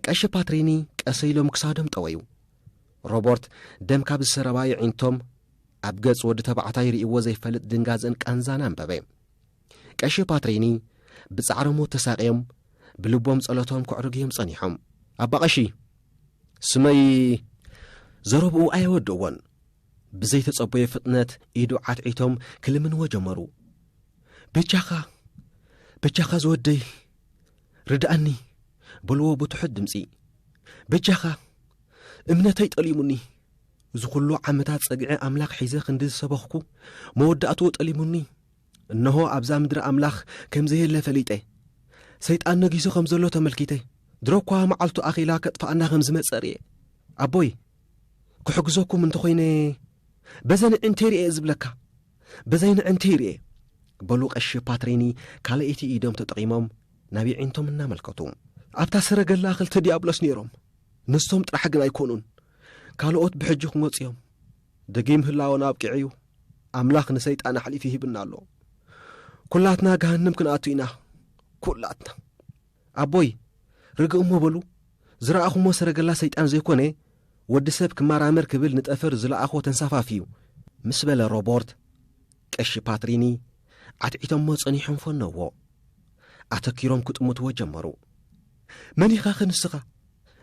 ቀሺ ፓትሪኒ ቀስ ኢሎም ክሳዶም ጠወዩ። ሮቦርት ደም ካብ ዝሰረባ የዒንቶም ኣብ ገጽ ወዲ ተባዕታይ ርእይዎ ዘይፈልጥ ድንጋጽን ቃንዛን ኣንበበ። ቀሺ ፓትሪኒ ብጻዕሪ ሞት ተሳቕዮም ብልቦም ጸሎቶም ክዕርግዮም ጸኒሖም። ኣባ ቀሺ ስመይ ዘረብኡ ኣየወድእዎን ብዘይተጸበዮ ፍጥነት ኢዱ ዓትዒቶም ክልምንዎ ጀመሩ። በጃኻ በጃኻ ዝወደይ ርድኣኒ በልዎ ብትሑት ድምፂ በጃኻ እምነተይ ጠሊሙኒ እዚ ዅሉ ዓመታት ጸግዒ ኣምላኽ ሒዘ ክንዲ ዝሰበኽኩ መወዳእትኡ ጠሊሙኒ እነሆ ኣብዛ ምድሪ ኣምላኽ ከም ዘየለ ፈሊጠ ሰይጣን ነጊሱ ከም ዘሎ ተመልኪተ ድሮ እኳ መዓልቱ ኣኺላ ከጥፍኣና ከም ዝመፀ ርየ ኣቦይ ክሕግዘኩም እንተኾይነ በዘን ዕንቴር እየ ዝብለካ ብዘይ ንዕንቲ ይርኤ። በሉ ቀሺ ፓትሪኒ ካልኣይቲ ኢዶም ተጠቒሞም ናብ የዒንቶም እናመልከቱ። ኣብታ ሰረገላ ክልተ ዲያብሎስ ነይሮም። ንሶም ጥራሕ ግን ኣይኮኑን። ካልኦት ብሕጂ ክመፁ እዮም። ደጊም ህላወና ኣብቂዑ እዩ። ኣምላኽ ንሰይጣን ኣሕሊፉ ሂብና ኣሎ። ኩላትና ገሃንም ክንኣቱ ኢና። ኩላትና። ኣቦይ! ርግእ እሞ በሉ፣ ዝረኣኹሞ ሰረገላ ሰይጣን ዘይኮነ፣ ወዲ ሰብ ክመራመር ክብል ንጠፈር ዝለኣኾ ተንሳፋፊ እዩ፣ ምስ በለ ሮቦርት፣ ቀሺ ፓትሪኒ ዓትዒቶሞ ጸኒሖም ፈነውዎ። ኣተኪሮም ክጥምትዎ ጀመሩ። መን ኢኻኸ ንስኻ?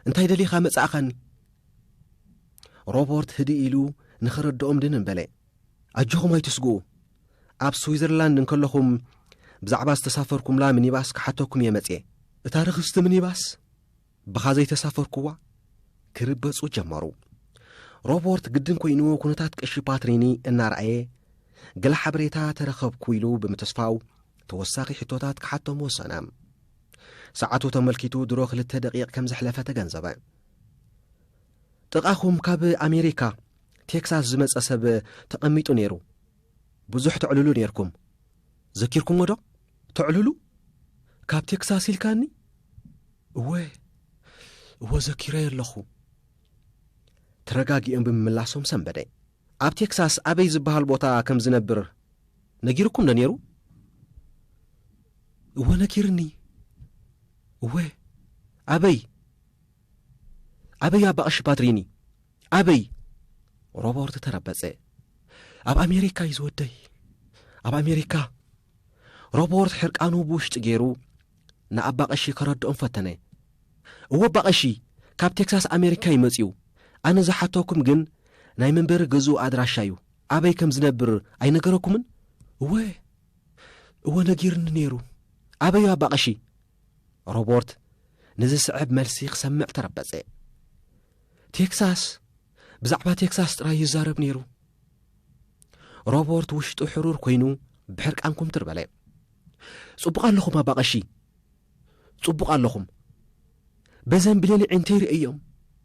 እንታይ ደሊኻ መጻእኻኒ? ሮቦርት ህድእ ኢሉ ንኸረድኦም ድንን በለ። ኣጆኹም ኣይትስግኡ ኣብ ስዊዘርላንድ እንከለኹም ብዛዕባ ዝተሳፈርኩምላ ሚኒባስ ክሓተኩም እየ መጽየ። እታ ርኽስቲ ሚኒባስ ብኻ ዘይተሳፈርኩዋ ክርበጹ ጀመሩ። ሮቦርት ግድን ኮይኑ ኩነታት ቀሺ ፓትሪኒ እናረኣየ ገለ ሓበሬታ ተረኸብኩ ኢሉ ብምትስፋው ተወሳኺ ሕቶታት ክሓቶም ወሰነ። ሰዓቱ ተመልኪቱ ድሮ ክልተ ደቂቕ ከም ዘሕለፈ ተገንዘበ። ጥቓኹም ካብ ኣሜሪካ ቴክሳስ ዝመጸ ሰብ ተቐሚጡ ነይሩ ብዙሕ ተዕልሉ ነይርኩም ዘኪርኩሞ ዶ ተዕልሉ ካብ ቴክሳስ ኢልካኒ እወ እዎ ዘኪረዮ ኣለኹ ተረጋጊኦም ብምምላሶም ሰንበደ ኣብ ቴክሳስ ኣበይ ዝበሃል ቦታ ከም ዝነብር ነጊርኩም ዶ ነይሩ እወ ነጊርኒ እወ ኣበይ ኣበይ ኣባቕሽ ባድሪኒ ኣበይ ሮቦርት ተረበጸ ኣብ ኣሜሪካ እዩ ዝወደይ ኣብ ኣሜሪካ ሮቦርት ሕርቃኑ ብውሽጢ ገይሩ ንኣባ ቐሺ ከረድኦም ፈተነ እወ ኣባ ቐሺ ካብ ቴክሳስ ኣሜሪካ ይመጽዩ ኣነ ዝሓተኩም ግን ናይ መንበሪ ገዝኡ ኣድራሻ እዩ ኣበይ ከም ዝነብር ኣይነገረኩምን እወ እወ ነጊርኒ ነይሩ ኣበዩ ኣባ ቐሺ ሮቦርት ንዝስዕብ መልሲ ክሰምዕ ተረበጸ። ቴክሳስ ብዛዕባ ቴክሳስ ጥራይ ይዛረብ ነይሩ። ሮቦርት ውሽጡ ሕሩር ኮይኑ ብሕርቃን ኩምትር በለ። ጽቡቕ ኣለኹም ኣባ ቀሺ፣ ጽቡቕ ኣለኹም። በዘን ብሌኒ ዒንተይ ርእዮም፣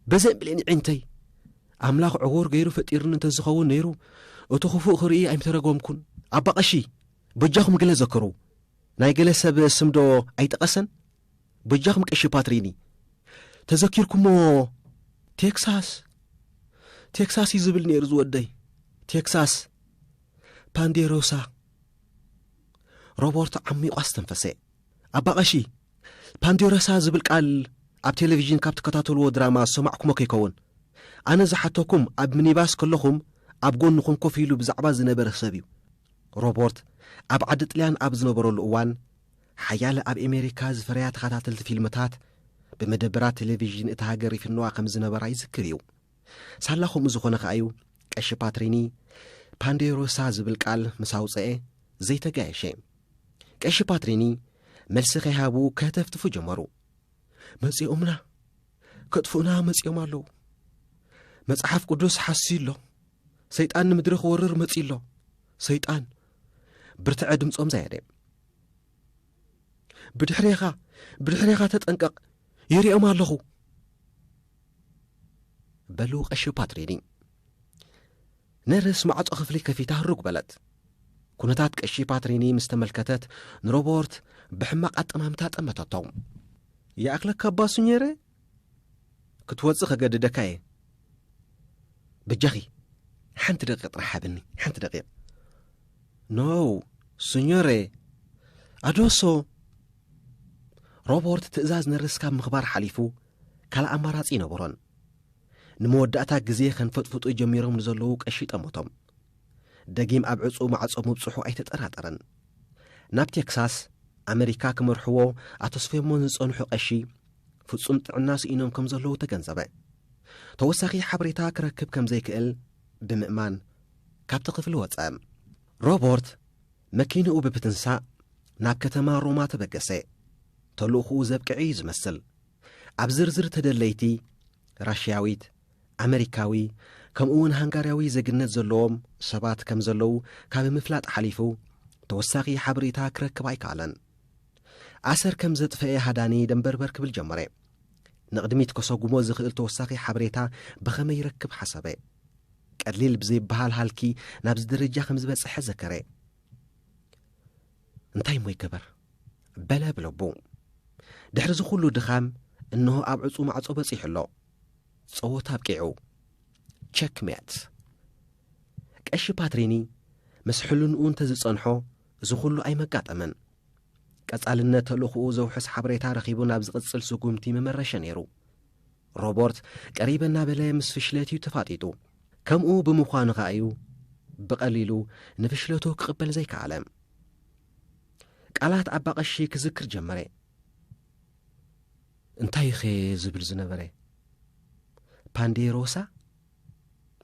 በዘን ብሌኒ ዒንተይ ኣምላኽ ዕዉር ገይሩ ፈጢርኒ እንተዝኸውን ነይሩ እቲ ኽፉእ ክርኢ ኣይምተረጎምኩን። ኣባ ቐሺ በጃኹም ገለ ዘክሩ። ናይ ገለ ሰብ ስም ዶ ኣይጠቀሰን በጃኹም ቀሺ ፓትሪኒ ተዘኪርኩሞ ቴክሳስ ቴክሳስ እዩ ዝብል ነይሩ ዝወደይ ቴክሳስ ፓንዴሮሳ ሮቦርቶ ዓሚቋ ኣስተንፈሰ ኣባ ቀሺ ፓንዴሮሳ ዝብል ቃል ኣብ ቴሌቭዥን ካብ ትከታተልዎ ድራማ ዝሰማዕኩሞ ከይከውን ኣነ ዝሓተኩም ኣብ ሚኒባስ ከለኹም ኣብ ጎንኹም ኮፍ ኢሉ ብዛዕባ ዝነበረ ሰብ እዩ ሮቦርት ኣብ ዓዲ ጥልያን ኣብ ዝነበረሉ እዋን፣ ሓያለ ኣብ ኤሜሪካ ዝፈረያ ተኸታተልቲ ፊልምታት ብመደበራት ተሌቪዥን እታ ሃገር ይፍነዋ ከም ዝነበራ ይዝክር እዩ። ሳላ ከምኡ ዝኾነ ከኣ እዩ ቀሺ ፓትሪኒ ፓንዴሮሳ ዝብል ቃል ምስ ኣውጽኤ ዘይተጋየሸ። ቀሺ ፓትሪኒ መልሲ ከይሃቡ ከህተፍትፉ ጀመሩ። መጺኦምና ከጥፍኡና መጺኦም ኣለዉ መጽሓፍ ቅዱስ ሓስዩ ኣሎ ሰይጣን ንምድሪ ክወርር መጺ ኣሎ ሰይጣን ብርትዐ ድምፆም ዘየደ ብድሕሬኻ ብድሕሬኻ ተጠንቀቕ ይርኦም ኣለኹ በሉ ቀሺ ፓትሪኒ ነርስ ማዕፆ ክፍሊ ከፊታ ህሩግ በለት ኩነታት ቀሺ ፓትሪኒ ምስ ተመልከተት ንሮቦርት ብሕማቕ ኣጠማምታ ጠመተቶ ይኣኽለካ ኣባሱ ነይረ ክትወጽእ ከገድደካ እየ በጃኺ ሓንቲ ደቂቕ ጥራሕ ሃብኒ ሓንቲ ደቂቕ ኖው ስኞረ ኣዶሶ ሮበርት ትእዛዝ ነርስ ካብ ምኽባር ሓሊፉ ካልእ ኣማራጺ ይነበሮን ንመወዳእታ ግዜ ከንፈጥፍጡ ጀሚሮም ንዘለዉ ቀሺ ጠመቶም ደጊም ኣብ ዕጹ ማዕጾ ምብጽሑ ኣይተጠራጠረን ናብ ቴክሳስ ኣመሪካ ክመርሕዎ ኣተስፈሞን ዝጸንሑ ቀሺ ፍጹም ጥዕና ስኢኖም ከም ዘለዉ ተገንዘበ። ተወሳኺ ሓበሬታ ክረክብ ከም ዘይክእል ብምእማን ካብቲ ክፍሊ ወጸ። ሮቦርት መኪንኡ ብብትንሳእ ናብ ከተማ ሮማ ተበገሰ። ተልእኹኡ ዘብቅዐ እዩ ዝመስል። ኣብ ዝርዝር ተደለይቲ ራሽያዊት፣ ኣመሪካዊ፣ ከምኡውን ሃንጋርያዊ ዜግነት ዘለዎም ሰባት ከም ዘለዉ ካብ ምፍላጥ ሓሊፉ ተወሳኺ ሓበሬታ ክረክብ ኣይከኣለን። ኣሰር ከም ዘጥፈኤ ሃዳኒ ደንበርበር ክብል ጀመረ። ንቕድሚት ከሰጉሞ ዝኽእል ተወሳኺ ሓበሬታ ብኸመይ ይረክብ ሓሰበ። ቀሊል ብዘይበሃል ሃልኪ ናብዚ ደረጃ ከም ዝበጸሐ ዘከረ። እንታይ እሞ ይገበር? በለ ብልቡ። ድሕሪ ዝኹሉ ድኻም እንሆ ኣብ ዕጹ ማዕጾ በጺሑ ኣሎ። ጸወታ ኣብቂዑ። ቸክሜት። ቀሺ ፓትሪኒ ምስ ሕልንኡ እንተ ዝጸንሖ እዚ ኹሉ ኣይመጋጠመን። ቀጻልነት ተልእኹኡ ዘውሕስ ሓበሬታ ረኺቡ ናብ ዝቕጽል ስጉምቲ ምመረሸ ነይሩ። ሮቦርት ቀሪበ እናበለ ምስ ፍሽለት እዩ ተፋጢጡ። ከምኡ ብምዃኑ ከኣ እዩ ብቐሊሉ ንፍሽለቱ ክቕበል ዘይከኣለ። ቃላት ኣባ ቀሺ ክዝክር ጀመረ። እንታይ ኸ ዝብል ዝነበረ ፓንዴሮሳ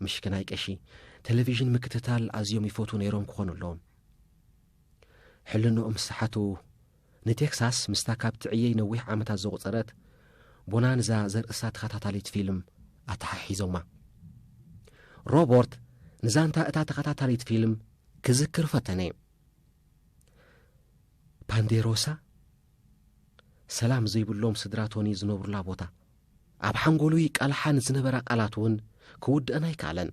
ምሽክናይ ቀሺ ቴሌቪዥን ምክትታል ኣዝዮም ይፈትዉ ነይሮም ክኾኑ ኣለዎም። ሕልንኦም ዝሰሓቱ ንቴክሳስ ምስታ ካብ ትዕየይ ነዊሕ ዓመታት ዘቑጸረት ቦናንዛ ዘርእስታ ተኸታታሊት ፊልም ኣተሓሒዞማ። ሮቦርት ንዛንታ እታ ተኸታታሊት ፊልም ክዝክር ፈተነ። ፓንዴሮሳ ሰላም ዘይብሎም ስድራ ቶኒ ዝነብሩላ ቦታ ኣብ ሓንጎሉ ይቃልሓ ንዝነበራ ቃላት እውን ክውድአን ኣይከኣለን።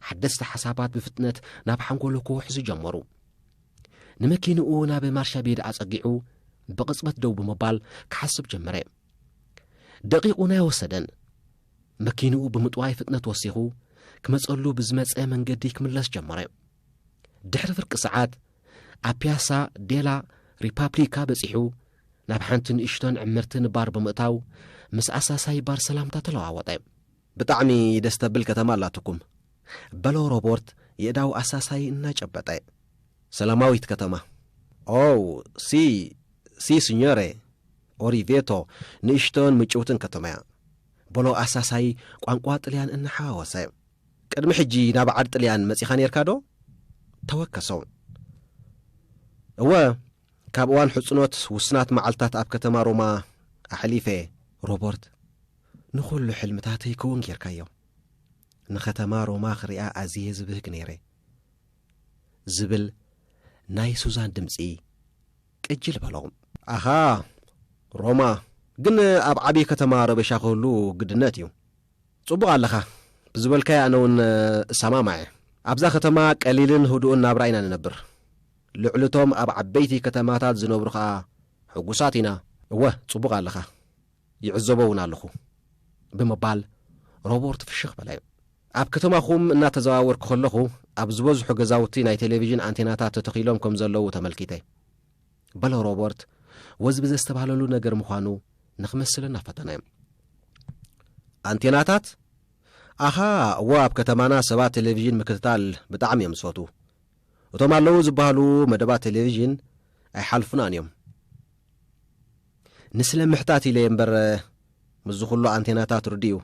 ሓደስቲ ሓሳባት ብፍጥነት ናብ ሓንጎሉ ክውሕዙ ጀመሩ። ንመኪንኡ ናብ ማርሻ ቤድ ኣጸጊዑ ብቕጽበት ደው ብምባል ክሓስብ ጀመረ። ደቂቑን ኣይወሰደን። መኪንኡ ብምጥዋይ ፍጥነት ወሲኹ ክመጸሉ ብዝመጸ መንገዲ ክምለስ ጀመረ። ድሕሪ ፍርቂ ሰዓት ኣብ ፒያሳ ዴላ ሪፓብሊካ በጺሑ ናብ ሓንቲ ንእሽቶን ዕምርትን ባር ብምእታው ምስ ኣሳሳይ ባር ሰላምታ ተለዋወጠ። ብጣዕሚ ደስ ተብል ከተማ ኣላትኩም። በሎ ሮቦርት የእዳው ኣሳሳዪ እናጨበጠ። ሰላማዊት ከተማ። ኦው ሲ ሲ ስኞሬ ኦሪቬቶ ንእሽቶን ምጭውትን ከተማ'ያ። በሎ ኣሳሳዪ ቋንቋ ጥልያን እናሓዋወሰ። ቅድሚ ሕጂ ናብ ዓድ ጥልያን መጺኻ ኔርካዶ? ተወከሶ። እወ ካብ እዋን ሕጽኖት ውስናት መዓልታት ኣብ ከተማ ሮማ ኣሕሊፈ'የ። ሮቦርት ንኹሉ ሕልምታተይ ክዉን ጌርካዮ። ንኸተማ ሮማ ክሪኣ ኣዝየ ዝብህግ ነይረ። ዝብል ናይ ሱዛን ድምጺ ቅጅል በሎም። ኣኻ ሮማ ግን ኣብ ዓቢ ከተማ ረበሻ ክህሉ ግድነት እዩ። ጽቡቕ ኣለኻ ብዝበልካዮ ኣነ ውን እሰማማዕ እየ። ኣብዛ ከተማ ቀሊልን ህዱእን ናብራ ኢና ንነብር። ልዕሊ እቶም ኣብ ዓበይቲ ከተማታት ዝነብሩ ከኣ ሕጉሳት ኢና። እወ ጽቡቕ ኣለኻ። ይዕዘቦ እውን ኣለኹ ብምባል ሮቦርት ፍሽኽ በለ። ኣብ ከተማኹም እናተዘዋወርኩ ከለኹ ኣብ ዝበዝሑ ገዛውቲ ናይ ቴሌቪዥን ኣንቴናታት ተተኺሎም ከም ዘለዉ ተመልኪተ። በሎ ሮቦርት ወዝቢ ዘስተባህለሉ ነገር ምዃኑ ንክመስል እናፈተነ። ኣንቴናታት ኣኻ እዎ ኣብ ከተማና ሰባት ቴሌቪዥን ምክትታል ብጣዕሚ እዮም ዝፈትዉ እቶም ኣለዉ ዝበሃሉ መደባት ቴሌቪዥን ኣይሓልፉናን እዮም ንስለ ምሕታት ኢለ'የ እምበር ምስዚ ኩሉ ኣንቴናታት ርድኡ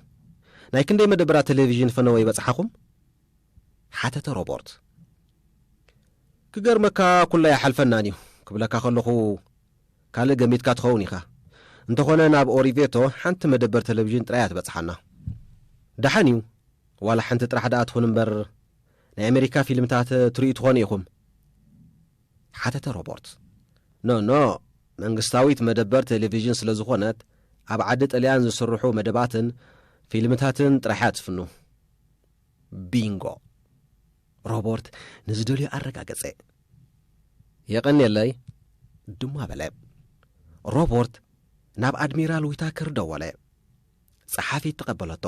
ናይ ክንደይ መደበራት ተሌቪዥን ፈነወ ይበጽሓኹም? ሓተተ ሮቦርት። ክገርመካ ኩሉ ኣይሓልፈናን'ዩ ክብለካ ከለኹ ካልእ ገሚትካ ትኸውን ኢኻ። እንተኾነ ናብ ኦሪቬቶ ሓንቲ መደበር ተሌቪዥን ጥራይ'ያ ትበጽሓና። ደሓን'ዩ ዋላ ሓንቲ ጥራሕ ደኣ ትኹን እምበር ናይ ኣሜሪካ ፊልምታት ትርእዩ ትኾኑ ኢኹም። ሓተተ ሮቦርት። ኖኖ፣ መንግስታዊት መደበር ቴሌቪዥን ስለ ዝኾነት፣ ኣብ ዓዲ ጥልያን ዝስርሑ መደባትን ፊልምታትን ጥራሕ'ያ ትፍኑ። ቢንጎ! ሮቦርት ንዝደልዮ ኣረጋገጸ። የቐንየለይ! ድማ በለ። ሮቦርት ናብ ኣድሚራል ዊታከር ደወለ። ጸሓፊት ተቐበለቶ።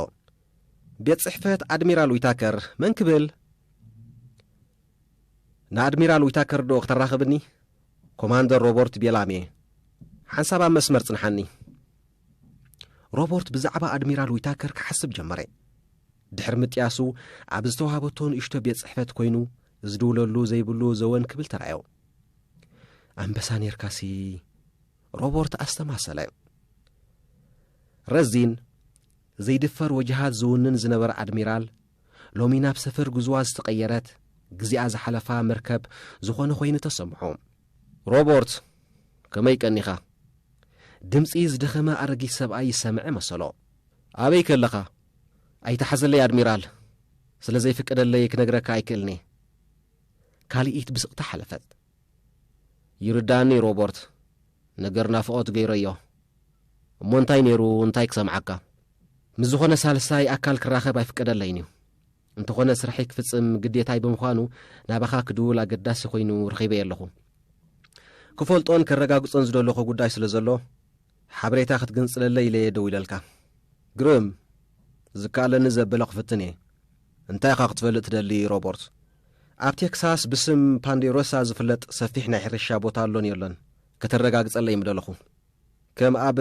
ቤት ጽሕፈት ኣድሚራል ዊታከር መን ክብል? ንኣድሚራል ዊታከር ዶ ክተራኽብኒ? ኮማንደር ሮቦርት ቤላምየ፣ ሓንሳብ ኣብ መስመር ጽንሓኒ። ሮቦርት ብዛዕባ ኣድሚራል ዊታከር ክሓስብ ጀመረ። ድሕሪ ምጥያሱ፣ ኣብ ዝተዋህበቶ ንእሽቶ ቤት ጽሕፈት ኮይኑ ዝድውለሉ ዘይብሉ ዘወን ክብል ተራዮ። ኣንበሳ ኔርካሲ፣ ሮቦርት ኣስተማሰለ። ረዚን፣ ዘይድፈር ወጅሃት ዝውንን ዝነበረ ኣድሚራል ሎሚ ናብ ሰፈር ጉዙዋ ዝተቐየረት ግዚኣ ዝሓለፋ መርከብ ዝኾነ ኮይኑ ተሰምዖ። ሮቦርት፣ ከመይ ቀኒኻ? ድምጺ ዝደኸመ ኣረጊት ሰብኣይ ይሰምዐ መሰሎ። ኣበይ ከለኻ? ኣይትሓዘለይ ኣድሚራል፣ ስለ ዘይፍቀደለይ ክነግረካ ኣይክእልን'የ። ካልኢት ብስቕታ ሓለፈት። ይርድኣኒ ሮቦርት። ነገር ናፍቖት ገይረዮ እሞ እንታይ ነይሩ እንታይ ክሰምዓካ ምስ ዝኾነ ሳልሳይ ኣካል ክራኸብ ኣይፍቀደለይን እዩ እንተኾነ ስርሐይ ክፍጽም ግዴታይ ብምዃኑ ናባኻ ክድውል ኣገዳሲ ኮይኑ ረኺበየ ኣለኹ ክፈልጦን ከረጋግጾን ዝደለኹ ጉዳይ ስለ ዘሎ ሓበሬታ ክትግንጽለለይ ኢለየ ደው ኢለልካ ግርም ዝከኣለኒ ዘበለ ክፍትን እየ እንታይ ኢኻ ክትፈልጥ ትደሊ ሮቦርት ኣብ ቴክሳስ ብስም ፓንዴሮሳ ዝፍለጥ ሰፊሕ ናይ ሕርሻ ቦታ ኣሎን የሎን ከተረጋግጸለይ ምደለኹ። ከም ኣብ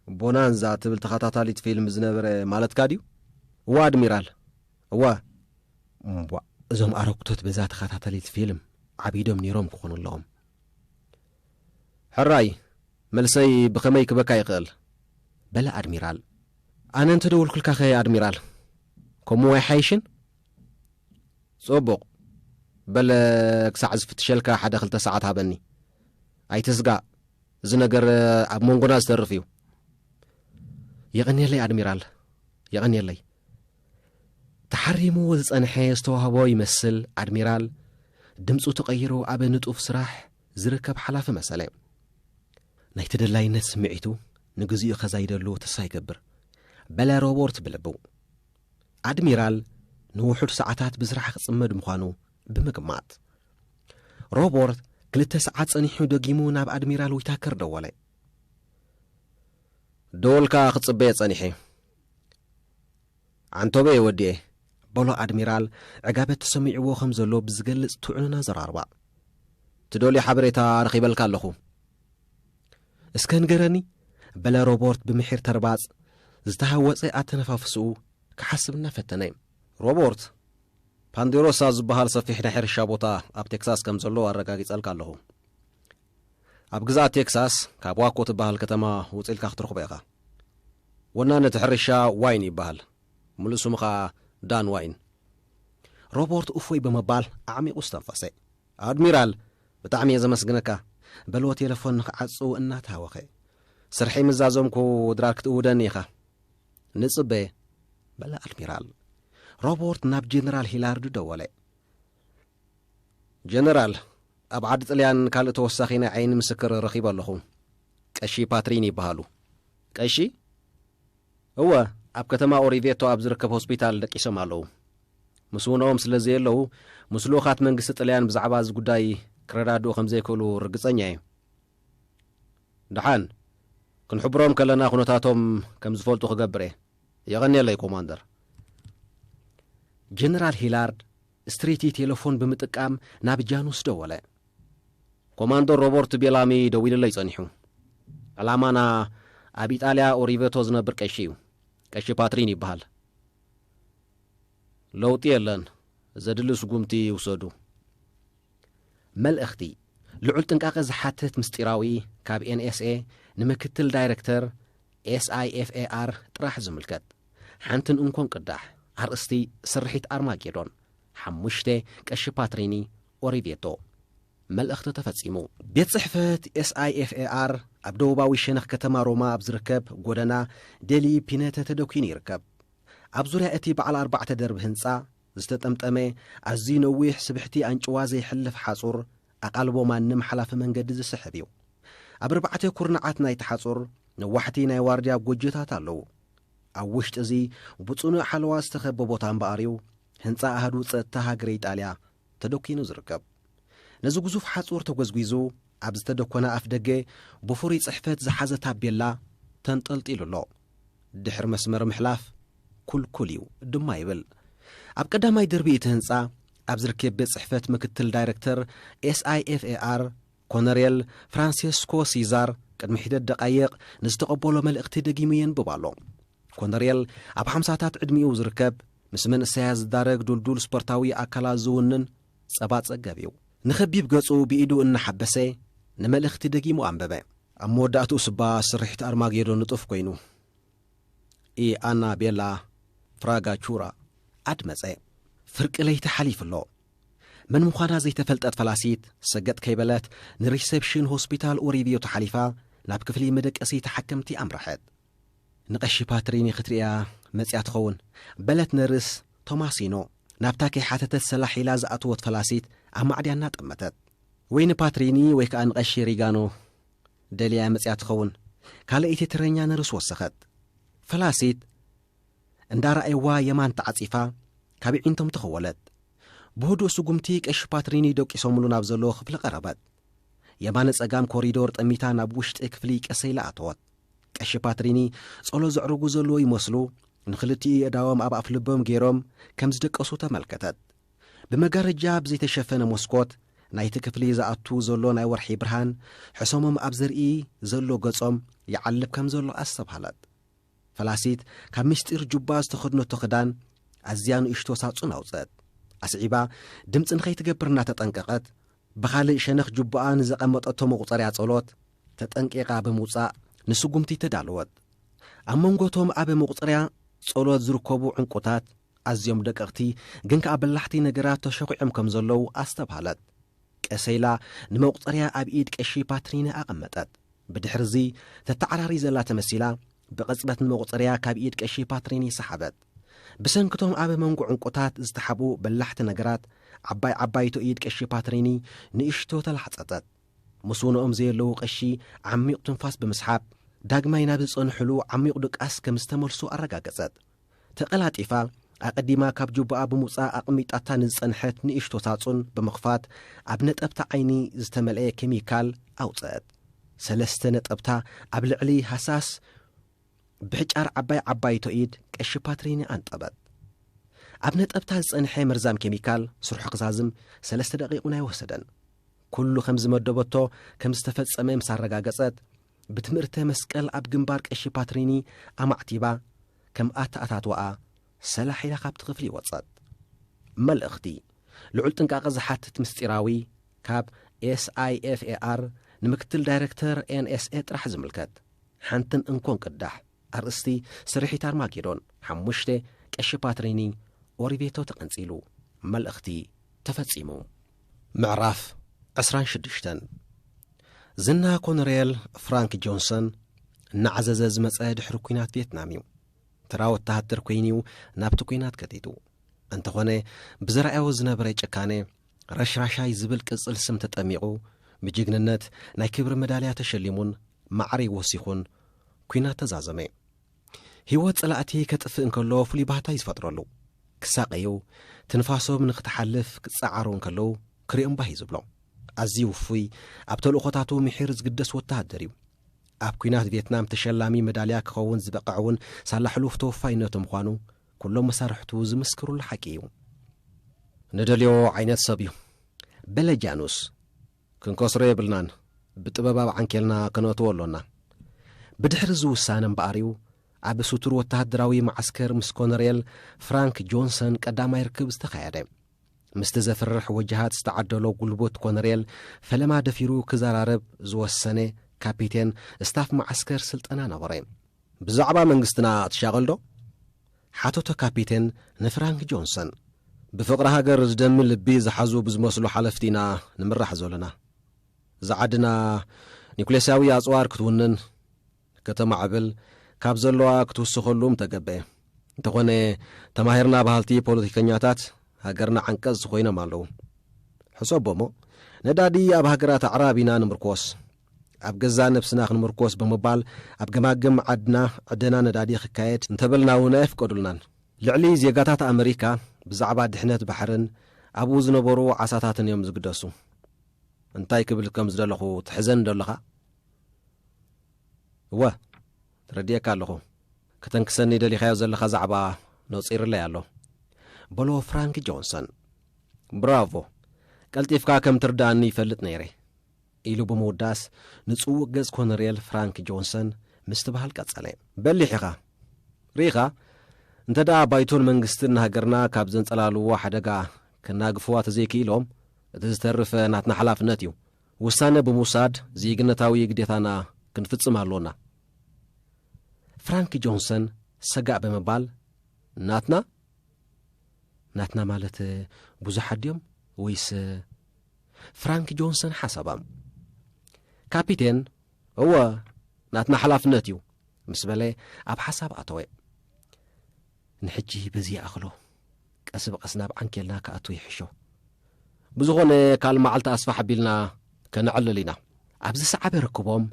ቦናንዛ ትብል ተኸታታሊት ፊልም ዝነበረ ማለትካ ድዩ? እወ ኣድሚራል፣ እወ። እምቧእ፣ እዞም ኣረግቶት በዛ ተኸታታሊት ፊልም ዓቢዶም ነይሮም ክኾኑ ኣለዎም። ሕራይ፣ መልሰይ ብኸመይ ክበካ ይኽእል? በለ ኣድሚራል። ኣነ እንተ ደወልኩልካኸ ኣድሚራል፣ ከምኡ ኣይሓይሽን? ጽቡቕ። በለ ክሳዕ ዝፍትሸልካ ሓደ ክልተ ሰዓት ሃበኒ። ኣይትስጋእ፣ እዚ ነገር ኣብ መንጎና ዝተርፍ እዩ። የቐንየለይ ኣድሚራል፣ የቐንየለይ። ተሓሪሙ ዝጸንሐ ዝተዋህቦ ይመስል ኣድሚራል ድምፁ ተቐይሩ ኣብ ንጡፍ ስራሕ ዝርከብ ሓላፊ መሰለ። ናይ ተደላይነት ስምዒቱ ንግዚኡ ከዛይደሉ ተስፋ ይገብር በለ ሮቦርት ብልቡ። ኣድሚራል ንውሑድ ሰዓታት ብስራሕ ክጽመድ ምዃኑ ብምግማት። ሮቦርት ክልተ ሰዓት ጸኒሑ ደጊሙ ናብ ኣድሚራል ዊታከር ደወለ። ደወልካ ክጽበየ ጸኒሐ። ዓንቶበየ ወዲኤ። በሎ ኣድሚራል ዕጋበት ተሰሚዕዎ ከም ዘሎ ብዝገልጽ ትዑንን ኣዘራርባ። ትደልዮ ሓበሬታ ረኺበልካ ኣለኹ። እስከ ንገረኒ በለ ሮቦርት ብምሒር ተርባጽ ዝተሃወጸ ኣተነፋፍስኡ ክሓስብ እናፈተነ። ሮቦርት፣ ፓንዴሮሳ ዝበሃል ሰፊሕ ናይ ሕርሻ ቦታ ኣብ ቴክሳስ ከም ዘሎ ኣረጋጊጸልካ ኣለኹ። ኣብ ግዝኣት ቴክሳስ ካብ ዋኮ ትበሃል ከተማ ውጽእ ኢልካ ክትረኽቦ ኢኻ። ወናኒ እቲ ሕርሻ ዋይን ይበሃል፣ ምሉእ ስሙ ኸኣ ዳን ዋይን። ሮቦርት እፎይ ብምባል ኣዕሚቑ ኣስተንፈሰ። ኣድሚራል ብጣዕሚ እየ ዘመስግነካ በልዎ ቴለፎን ንክዓጹ እናተሃወኸ። ስርሐይ ምስ ዛዘምኩ ድራር ክትእውደኒ ኢኻ። ንጽበ በለ ኣድሚራል። ሮቦርት ናብ ጀነራል ሂላርድ ደወለ። ጀነራል ኣብ ዓዲ ጥልያን ካልእ ተወሳኺ ናይ ዓይኒ ምስክር ረኺበ ኣለኹ። ቀሺ ፓትሪን ይበሃሉ። ቀሺ? እወ ኣብ ከተማ ኦሪቬቶ ኣብ ዝርከብ ሆስፒታል ደቂሶም ኣለዉ። ምስ ውነኦም ስለ ዘየለዉ፣ ምስ ልኡኻት መንግስቲ ጥልያን ብዛዕባ እዚ ጉዳይ ክረዳድኡ ከም ዘይክእሉ ርግጸኛ እየ። ደሓን፣ ክንሕብሮም ከለና ኩነታቶም ከም ዝፈልጡ ክገብር እየ። የቐንየለይ ኮማንደር። ጀነራል ሂላርድ ስትሪቲ ቴለፎን ብምጥቃም ናብ ጃኑስ ደወለ። ኮማንደር ሮበርት ቤላሚ ደዊሉለይ ጸኒሑ። ዕላማና ኣብ ኢጣልያ ኦሪቨቶ ዝነብር ቀሺ እዩ። ቀሺ ፓትሪን ይበሃል። ለውጢ የለን ዘድሊ ስጉምቲ ይውሰዱ። መልእኽቲ ልዑል ጥንቃቐ ዝሓትት ምስጢራዊ ካብ NSA ንምክትል ዳይረክተር SIFAR ጥራሕ ዝምልከት ሓንትን እንኮን ቅዳሕ ኣርእስቲ ስርሒት ኣርማጌዶን ሓሙሽተ ቀሺ ፓትሪኒ ኦሪቬቶ መልእኽቲ ተፈጺሙ። ቤት ጽሕፈት SIFAR ኣብ ደቡባዊ ሸነኽ ከተማ ሮማ ኣብ ዝርከብ ጎደና ደሊ ፒነተ ተደኲኑ ይርከብ። ኣብ ዙርያ እቲ በዓል ኣርባዕተ ደርቢ ህንጻ ዝተጠምጠመ ኣዝዩ ነዊሕ ስብሕቲ ኣንጭዋ ዘይሕልፍ ሓጹር ኣቓልቦ ማንም ሓላፊ መንገዲ ዝስሕብ እዩ። ኣብ ኣርባዕተ ኩርናዓት ናይቲ ሓጹር ነዋሕቲ ናይ ዋርድያ ጎጆታት ኣለዉ። ኣብ ውሽጢ እዚ ብጽኑዕ ሓለዋ ዝተኸበ ቦታ እምበኣር'ዩ ህንጻ ኣሃዱ ጸጥታ ሃገረ ኢጣልያ ተደኲኑ ዝርከብ። ነዚ ግዙፍ ሓጹር ተጐዝጒዙ ኣብ ዝተደኰነ ኣፍደገ ብፍሩይ ጽሕፈት ዝሓዘ ታቤላ ተንጠልጢሉ ኣሎ። ድሕሪ መስመር ምሕላፍ ክልኩል እዩ ድማ ይብል። ኣብ ቀዳማይ ደርቢ እቲ ህንጻ ኣብ ዝርኬብ ቤት ጽሕፈት ምክትል ዳይረክተር SIFAR ኮነሬል ፍራንሴስኮ ሲዛር ቅድሚ ሒደት ደቓይቕ ንዝተቐበሎ መልእኽቲ ደጊሙ የንብብ ኣሎ። ኮነርየል ኣብ ሓምሳታት ዕድሚኡ ዝርከብ ምስ መንእሰያት ዝዳረግ ዱልዱል ስፖርታዊ ኣካላት ዝውንን ጸባ ጸገብ እዩ። ንኸቢብ ገጹ ብኢዱ እናሓበሰ ንመልእኽቲ ደጊሙ ኣንበበ። ኣብ መወዳእትኡ ስባ ስርሒት ኣርማጌዶን ንጡፍ ኮይኑ ኢ ኣና ቤላ ፍራጋ ቹራ ኣድመጸ። ፍርቂ ለይቲ ሓሊፉ ኣሎ። መን ምዃና ዘይተፈልጠት ፈላሲት ሰገጥ ከይበለት ንሪሰፕሽን ሆስፒታል ኡሪቪዮ ተሓሊፋ ናብ ክፍሊ መደቀሲ ተሓከምቲ ኣምረሐት። ንቐሺ ፓትሪኒ ክትርእያ መጺኣ ትኸውን። በለት ነርስ ቶማሲኖ፣ ናብታ ከይሓተተት ሰላሕ ኢላ ዝኣተወት ፈላሲት ኣብ ማዕድያ እናጠመተት። ወይ ንፓትሪኒ ወይ ከኣ ንቐሺ ሪጋኖ ደልያያ መጺኣ ትኸውን። ካልኣይቲ ተረኛ ነርስ ወሰኸት። ፈላሲት እንዳረኣይዋ የማን ተዓጺፋ ካብ የዒንቶም ተኸወለት። ብህዱእ ስጉምቲ ቀሺ ፓትሪኒ ደቂሶምሉ ናብ ዘለዎ ክፍሊ ቀረበት። የማነ ጸጋም ኮሪዶር ጠሚታ ናብ ውሽጢ ክፍሊ ቀሰ ኢላ ኣተወት። ቀሺ ፓትሪኒ ጸሎት ዘዕርጉ ዘለዎ ይመስሉ ንኽልቲኡ የእዳዎም ኣብ ኣፍ ልቦም ገይሮም ከም ዝደቀሱ ተመልከተት። ብመጋረጃ ብዘይተሸፈነ መስኮት ናይቲ ክፍሊ ዝኣቱ ዘሎ ናይ ወርሒ ብርሃን ሕሰሞም ኣብ ዘርኢ ዘሎ ገጾም ይዓልብ ከም ዘሎ ኣስተብሃለት። ፈላሲት ካብ ምስጢር ጁባ ዝተኸድነቶ ክዳን ኣዝያ ንእሽቶ ሳጹን ኣውጸት። ኣስዒባ ድምፂ ንኸይትገብር እናተጠንቀቐት ብኻልእ ሸነኽ ጁባኣ ንዘቐመጠቶ መቑፀርያ ጸሎት ተጠንቂቓ ብምውጻእ ንስጉምቲ ተዳለወት። ኣብ መንጎ እቶም ኣብ መቑጸርያ ጸሎት ዝርከቡ ዕንቊታት፣ ኣዝዮም ደቀቕቲ ግን ከኣ በላሕቲ ነገራት ተሸዂዖም ከም ዘለዉ ኣስተብሃለት። ቀስ ኢላ ንመቑጸርያ ኣብ ኢድ ቀሺ ፓትሪኒ ኣቐመጠት። ብድሕሪ እዚ ተተዓራሪ ዘላ ተመሲላ ብቕጽበት ንመቑጸርያ ካብ ኢድ ቀሺ ፓትሪኒ ሰሓበት። ብሰንኪ እቶም ኣብ መንጎ ዕንቊታት ዝተሓብኡ በላሕቲ ነገራት፣ ዓባይ ዓባይቶ ኢድ ቀሺ ፓትሪኒ ንእሽቶ ተላሕጸጸት። ምስውነኦም ዘየለዉ ቀሺ ዓሚቕ ትንፋስ ብምስሓብ፣ ዳግማይ ናብ ዝጸንሑሉ ዓሚቝ ድቃስ ከም ዝተመልሱ ኣረጋገጸት። ተቐላጢፋ፣ ኣቐዲማ ካብ ጁባኣ ብምውጻእ ኣቐሚጣታ ንዝጸንሐት ንእሽቶ ሳጹን ብምኽፋት፣ ኣብ ነጠብታ ዓይኒ ዝተመልኤ ኬሚካል ኣውጸአት። ሰለስተ ነጠብታ ኣብ ልዕሊ ሃሳስ ብሕጫር ዓባይ ዓባይቶ ኢድ ቀሺ ፓትሪኒ ኣንጠበት። ኣብ ነጠብታ ዝጸንሐ መርዛም ኬሚካል ስርሑ ክዛዝም ሰለስተ ደቒቕ'ውን ኣይወሰደን። ኩሉ ከም ዝመደበቶ ከም ዝተፈጸመ ምስ ኣረጋገጸት፣ ብትምእርተ መስቀል ኣብ ግንባር ቀሺ ፓትሪኒ ኣማዕቲባ፣ ከም ኣተኣታትዋኣ ሰላሒላ ካብቲ ክፍሊ ወጸት። መልእኽቲ ልዑል ጥንቃቐ ዝሓትት ምስጢራዊ ካብ SIFAR ንምክትል ዳይረክተር NSA ጥራሕ ዝምልከት ሓንትን እንኮን ቅዳሕ። ኣርእስቲ ስርሒት ኣርማጌዶን ሓሙሽተ ቀሺ ፓትሪኒ ኦሪቬቶ ተቐንጺሉ። መልእኽቲ ተፈጺሙ። ምዕራፍ ዕስራን ሽዱሽተን ዝና ኮነሬል ፍራንክ ጆንሰን እናዓዘዘ ዝመጸ ድሕሪ ኲናት ቪየትናም እዩ። ተራ ወተሃደር ኮይኑ እዩ ናብቲ ኲናት ከቲቱ። እንተኾነ ብዘርኣዮ ዝነበረ ጭካነ ረሽራሻይ ዝብል ቅጽል ስም ተጠሚቑ ብጅግንነት ናይ ክብሪ መዳልያ ተሸሊሙን ማዕሪግ ወሲኹን ኲናት ተዛዘመ። ህይወት ጸላእቲ ከጥፍእ እንከሎ ፍሉይ ባህታ እዩ ዝፈጥረሉ። ክሳቐዩ፣ ትንፋሶም ንኽትሓልፍ ክጸዓሩ እንከለዉ ክሪኦም ባህ እዩ ዝብሎ። ኣዝዩ ውፉይ፣ ኣብ ተልእኾታቱ ምሒር ዝግደስ ወተሃደር እዩ። ኣብ ኲናት ቬትናም ተሸላሚ መዳልያ ክኸውን ዝበቐዕ እውን ሳላ ሕሉፍ ተወፋይነቱ ምዃኑ ኩሎም መሳርሕቱ ዝምስክሩሉ ሓቂ እዩ። ንደልዮ ዓይነት ሰብ እዩ። በለ ጃኑስ። ክንከስሮ የብልናን፣ ብጥበብ ኣብ ዓንኬልና ከነእትዎ ኣሎና። ብድሕሪ እዚ ውሳነ እምበኣር'ዩ ኣብ ስቱር ወተሃደራዊ መዓስከር ምስ ኮነሬል ፍራንክ ጆንሰን ቀዳማይ ርክብ ዝተኻየደ። ምስቲ ዘፍርሕ ወጀሃት ዝተዓደሎ ጉልቡት ኮነሬል ፈለማ ደፊሩ ክዘራረብ ዝወሰነ ካፒቴን ስታፍ መዓስከር ስልጠና ነበረ። ብዛዕባ መንግስትና ትሻቐልዶ? ሓተቶ ካፒቴን ንፍራንክ ጆንሰን። ብፍቕሪ ሃገር ዝደሚ ልቢ ዝሓዙ ብዝመስሉ ሓለፍቲ ኢና ንምራሕ ዘሎና። እዛ ዓድና ኒኩሌስያዊ ኣጽዋር ክትውንን፣ ከተማዕብል፣ ካብ ዘለዋ ክትውስኸሉ ምተገብኤ። እንተኾነ ተማሂርና በሃልቲ ፖለቲከኛታት ሃገርና ዓንቀጽቲ ኮይኖም ኣለዉ። ሕሰቦ'ሞ ነዳዲ ኣብ ሃገራት ኣዕራብ ኢና ንምርኮስ። ኣብ ገዛእ ነብስና ክንምርኮስ ብምባል ኣብ ገማግም ዓድና ዕደና ነዳዲ ክካየድ እንተበልና እውን ኣየፍቀዱልናን። ልዕሊ ዜጋታት ኣመሪካ ብዛዕባ ድሕነት ባሕርን ኣብኡ ዝነበሩ ዓሳታትን እዮም ዝግደሱ። እንታይ ክብል ከም ዝደለኹ ትሕዘኒ ዶ ኣለኻ? እወ፣ ተረዲኤካ ኣለኹ። ከተንክሰኒ ደሊኻዮ ዘለኻ ዛዕባ ነጺርለይ ኣሎ። በሎ ፍራንክ ጆንሰን። ብራቮ! ቀልጢፍካ ከም ትርድኣኒ ይፈልጥ ነይረ። ኢሉ ብምውዳስ ንጽውቕ ገጽ ኮነርየል ፍራንክ ጆንሰን ምስቲ በሃል ቀጸለ። በሊሕ ኢኻ። ርኢኻ፣ እንተ ደኣ ባይቶን መንግስትን ንሃገርና ካብ ዘንጸላልዉዎ ሓደጋ ከናግፍዋ ተዘይክኢሎም፣ እቲ ዝተርፍ ናትና ሓላፍነት እዩ። ውሳነ ብምውሳድ ዜግነታዊ ግዴታና ክንፍጽም ኣሎና። ፍራንክ ጆንሰን ሰጋእ ብምባል፣ ናትና? ናትና ማለት ብዙሓት ድዮም ወይስ? ፍራንክ ጆንሰን ሓሳባም ካፒቴን እወ ናትና ሓላፍነት እዩ ምስ በለ ኣብ ሓሳብ ኣተወ ንሕጂ በዚ ይኣኽሎ ቀስ ብቐስ ናብ ዓንኬልና ክኣቱ ይሕሾ ብዝኾነ ካል መዓልቲ ኣስፋሕ ኣቢልና ከነዕልል ኢና ኣብዚ ሰዓበ ርክቦም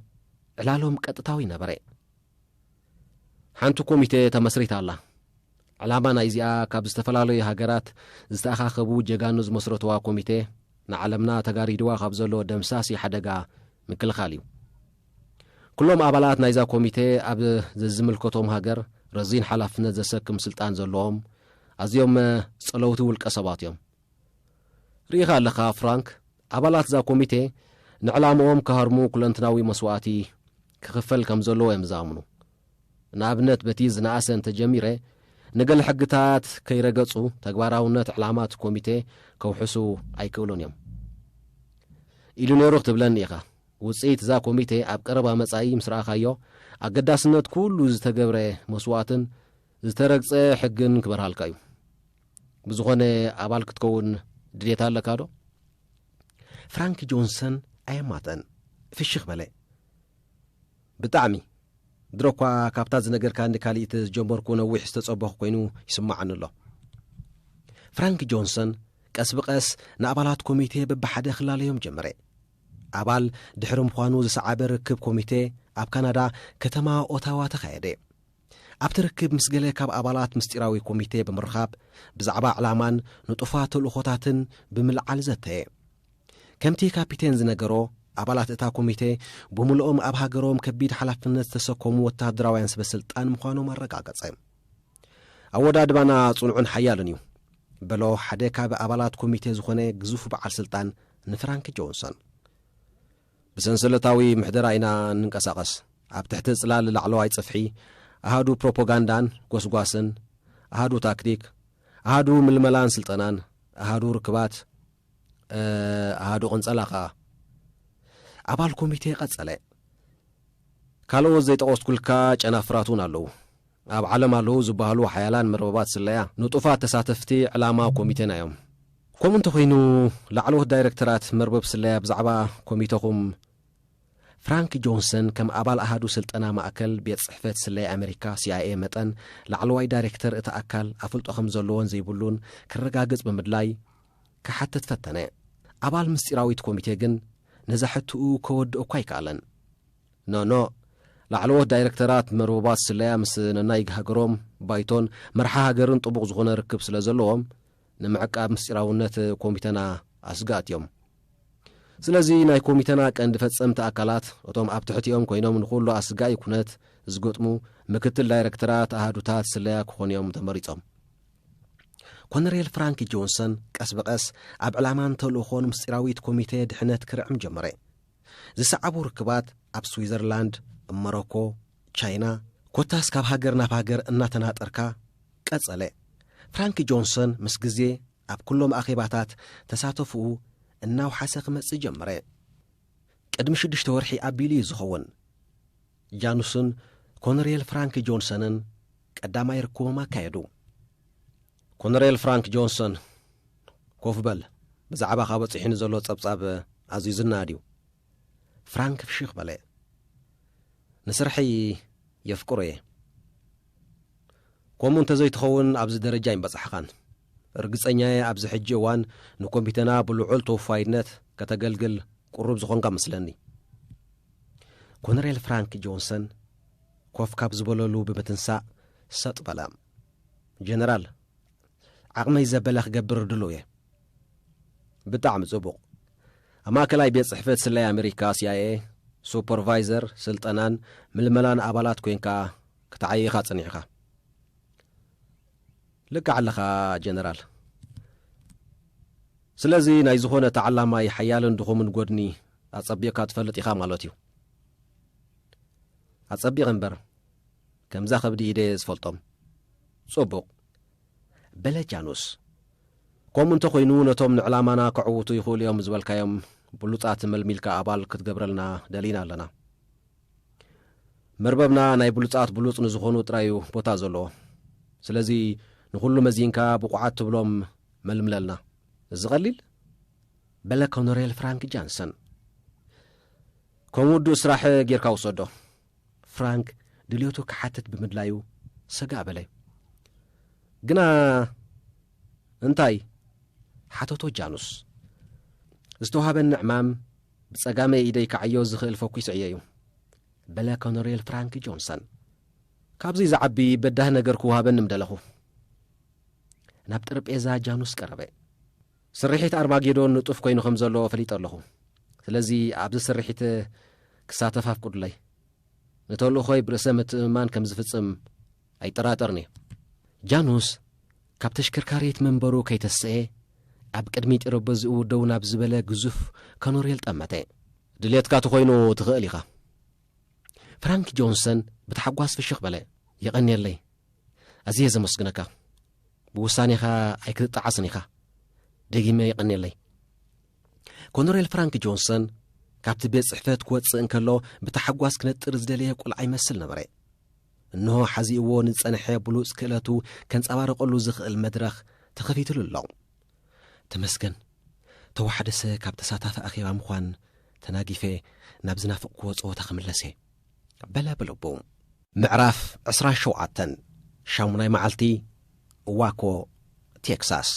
ዕላሎም ቀጥታዊ ነበረ ሓንቲ ኮሚቴ ተመስሪታ ኣላ። ዕላማ ናይዚኣ ካብ ዝተፈላለዩ ሃገራት ዝተኣኻኸቡ ጀጋኑ ዝመስረትዋ ኮሚቴ ንዓለምና ተጋሪድዋ ካብ ዘሎ ደምሳሲ ሓደጋ ምክልኻል እዩ። ኩሎም ኣባላት ናይዛ ኮሚቴ ኣብ ዘዝምልከቶም ሃገር ረዚን ሓላፍነት ዘሰክም ስልጣን ዘለዎም ኣዝዮም ጸለውቲ ውልቀ ሰባት እዮም። ርኢኻ ኣለኻ ፍራንክ፣ ኣባላት እዛ ኮሚቴ ንዕላምኦም ክሃርሙ ኩለንትናዊ መስዋእቲ ክኽፈል ከም ዘለዎ እዮም ዝኣምኑ። ንኣብነት በቲ ዝነኣሰ እንተ ጀሚረ ንገለ ሕግታት ከይረገጹ ተግባራውነት ዕላማት ኮሚቴ ከውሕሱ ኣይክእሉን እዮም። ኢሉ ነይሩ ክትብለኒ ኢኻ። ውጽኢት እዛ ኮሚቴ ኣብ ቀረባ መጻኢ ምስ ረኣኻዮ ኣገዳስነት ኩሉ ዝተገብረ መስዋእትን ዝተረግጸ ሕግን ክበርሃልካ እዩ። ብዝኾነ ኣባል ክትከውን ድሌት ኣለካ ዶ ፍራንክ ጆንሰን ኣየማተን ፍሽኽ በለ ብጣዕሚ ድሮ እኳ ካብታ ዝነገርካኒ ካሊእት ዝጀመርኩ ነዊሕ ዝተጸበኹ ኮይኑ ይስማዓኒ ኣሎ ፍራንክ ጆንሰን ቀስ ብቐስ ንኣባላት ኮሚቴ በብሓደ ክላለዮም ጀመረ ኣባል ድሕሪ ምዃኑ ዝሰዓበ ርክብ ኮሚቴ ኣብ ካናዳ ከተማ ኦታዋ ተኻየደ ኣብቲ ርክብ ምስ ገለ ካብ ኣባላት ምስጢራዊ ኮሚቴ ብምርኻብ ብዛዕባ ዕላማን ንጡፋት ተልእኾታትን ብምልዓል ዘተየ። ከምቲ ካፒቴን ዝነገሮ፣ ኣባላት እታ ኮሚቴ ብምሉኦም ኣብ ሃገሮም ከቢድ ሓላፍነት ዝተሰከሙ ወተሃደራውያን ሰበስልጣን ምዃኖም ኣረጋገጸ። ኣወዳድባና ጽኑዕን ሓያልን እዩ፣ በሎ ሓደ ካብ ኣባላት ኮሚቴ ዝኾነ ግዙፍ በዓል ስልጣን ንፍራንክ ጆንሶን። ብሰንሰለታዊ ምሕደራ ኢና እንንቀሳቐስ፣ ኣብ ትሕቲ ጽላል ላዕለዋይ ጽፍሒ፣ ኣሃዱ ፕሮፖጋንዳን ጎስጓስን፣ ኣሃዱ ታክቲክ፣ ኣሃዱ ምልመላን ስልጠናን፣ ኣሃዱ ርክባት፣ ኣሃዱ ቅንጸላ ከኣ። ኣባል ኮሚቴ ቀጸለ። ካልኦት ዘይጠቐስኩልካ ጨናፍራት እውን ኣለዉ። ኣብ ዓለም ኣለዉ ዝበሃሉ ሓያላን መርበባት ስለያ፣ ንጡፋት ተሳተፍቲ ዕላማ ኮሚቴና እዮም። ከምኡ እንተኾይኑ፣ ላዕለዎት ዳይረክተራት መርበብ ስለያ ብዛዕባ ኮሚተኹም፣ ፍራንክ ጆንሰን ከም ኣባል ኣሃዱ ስልጠና ማእከል ቤት ጽሕፈት ስለያ ኣመሪካ፣ ሲኣይኤ፣ መጠን፣ ላዕለዋይ ዳይረክተር እቲ ኣካል ኣፍልጦ ከም ዘለዎን ዘይብሉን ከረጋግጽ ብምድላይ ክሓትት ፈተነ። ኣባል ምስጢራዊት ኮሚቴ ግን ነዛ ሕትኡ ከወድኦ'ኳ ኣይከኣለን። ኖኖ ላዕለዎት ዳይረክተራት መርቡባት ስለያ ምስ ነናይግ ሃገሮም ባይቶን መርሓ ሃገርን ጥቡቕ ዝኾነ ርክብ ስለ ዘለዎም ንምዕቃብ ምስጢራውነት ኮሚተና ኣስጋእት እዮም። ስለዚ ናይ ኮሚተና ቀንዲ ፈጸምቲ ኣካላት እቶም ኣብ ትሕቲኦም ኮይኖም ንኹሉ ኣስጋኢ ኩነት ዝገጥሙ ምክትል ዳይረክተራት ኣሃዱታት ስለያ ክኾኑ እዮም ተመሪጾም። ኮነሬል ፍራንኪ ጆንሰን ቀስ ብቐስ ኣብ ዕላማን ተልእኾን ምስጢራዊት ኮሚቴ ድሕነት ክርዕም ጀመረ። ዝሰዓቡ ርክባት ኣብ ስዊዘርላንድ፣ መሮኮ፣ ቻይና ኮታስ ካብ ሃገር ናብ ሃገር እናተናጠርካ ቀጸለ። ፍራንክ ጆንሰን ምስ ግዜ ኣብ ኩሎም ኣኼባታት ተሳተፎኡ እናውሓሰ ክመጽእ ጀመረ። ቅድሚ ሽዱሽተ ወርሒ ኣቢሉ'ዩ ዝኸውን። ጃኑስን ኮነሬል ፍራንክ ጆንሰንን ቀዳማይ ርክቦም ኣካየዱ። ኮነሬል ፍራንክ ጆንሰን፣ ኮፍ በል፣ ብዛዕባኻ በጺሑኒ ዘሎ ጸብጻብ ኣዝዩ ዝነኣድ እዩ። ፍራንክ ፍሽኽ በለ። ንስርሐይ የፍቅሮ እየ። ኮምኡ እንተዘይትኸውን ኣብዚ ደረጃ ኣይምበጻሕኻን። ርግጸኛየ ኣብዚ ሕጂ እዋን ንኮሚቴና ብልዑል ተወፋይነት ከተገልግል ቁሩብ ዝኾንካ እመስለኒ። ኮነሬል ፍራንክ ጆንሰን ኮፍ ካብ ዝበለሉ ብምትንሳእ ሰጥ በለ። ጀነራል፣ ዓቕመይ ዘበለ ክገብር ድሉው እየ። ብጣዕሚ ጽቡቕ። ኣብ ማእከላይ ቤት ጽሕፈት ስለያ ኣመሪካ፣ CIA፣ ሱፐርቫይዘር ስልጠናን ምልመላን ኣባላት ኮይንካ ክትዓዪ ኢኻ ጸኒሕኻ። ልክዕ ኣለኻ ጀነራል። ስለዚ ናይ ዝኾነ ተዓላማይ ሓያልን ድኹምን ጎድኒ ኣጸቢቕካ ትፈልጥ ኢኻ ማለት እዩ። ኣጸቢቕ እምበር ከምዛ ከብዲ ኢደየ ዝፈልጦም ጽቡቕ። በለ ጃኑስ። ከምኡ እንተ ኾይኑ ነቶም ንዕላማና ከዕውቱ ይኽእሉ እዮም ዝበልካዮም ብሉጻት መልሚልካ ኣባል ክትገብረልና ደሊና ኣለና። መርበብና ናይ ብሉጻት ብሉጽ ንዝኾኑ ጥራይ እዩ ቦታ ዘለዎ። ስለዚ ንኹሉ መዚንካ ብቑዓት ትብሎም መልምለልና። እዚ ቀሊል? በለ ኮነሬል ፍራንክ ጃንሰን። ከም ውዱእ ስራሕ ጌርካ ውሰዶ። ፍራንክ ድልዮቱ ክሓትት ብምድላዩ ሰጋእ በለ። ግና እንታይ? ሓተቶ ጃኑስ። ዝተዋህበኒ ዕማም ብጸጋመይ ኢደይ ክዓዮ ዝኽእል ፈኲስ ዕዮ'ዩ፣ በለ ኮነሬል ፍራንክ ጆንሰን። ካብዚ ዝዓቢ በዳሂ ነገር ክወሃበኒ ምደለኹ። ናብ ጠረጴዛ ጃኑስ ቀረበ። ስርሒት ኣርማጌዶን ንጡፍ ኮይኑ ከም ዘሎ ፈሊጠ ኣለኹ። ስለዚ ኣብዚ ስርሒት ክሳተፍ ኣፍቅዱለይ። ንተልእኾይ ብርእሰ ምትእምማን ከም ዝፍጽም ኣይጠራጠርን እዩ። ጃኑስ ካብ ተሽከርካሪት መንበሩ ከይተሰኤ ኣብ ቅድሚ ጢረበዝኡ ደው ናብ ዝበለ ግዙፍ ከኖሬል ጠመተ። ድሌትካ ተኾይኑ ትኽእል ኢኻ። ፍራንክ ጆንሰን ብታሕጓስ ፍሽኽ በለ። የቐንየለይ። ኣዝየ ዘመስግነካ። ብውሳኔኻ ኣይክትጠዓስን ኢኻ። ደጊመ የቐኔለይ። ኮነሬል ፍራንክ ጆንሰን ካብቲ ቤት ጽሕፈት ክወጽእ እንከሎ ብታሕጓስ ክነጥር ዝደለየ ቁልዓ ይመስል ነበረ። እንሆ ሓዚእዎ ንዝጸንሐ ብሉጽ ክእለቱ ከንጸባርቐሉ ዝኽእል መድረኽ ተኸፊትሉ ኣሎ ተመስገን ተዋሓደሰ ካብ ተሳታፊ ኣኼባ ምዃን ተናጊፈ ናብ ዝናፍቕክዎ ጸወታ ክምለሰ በለ ብልቡ ምዕራፍ ዕስራን ሸውዓተን ሻሙናይ መዓልቲ ዋኮ ቴክሳስ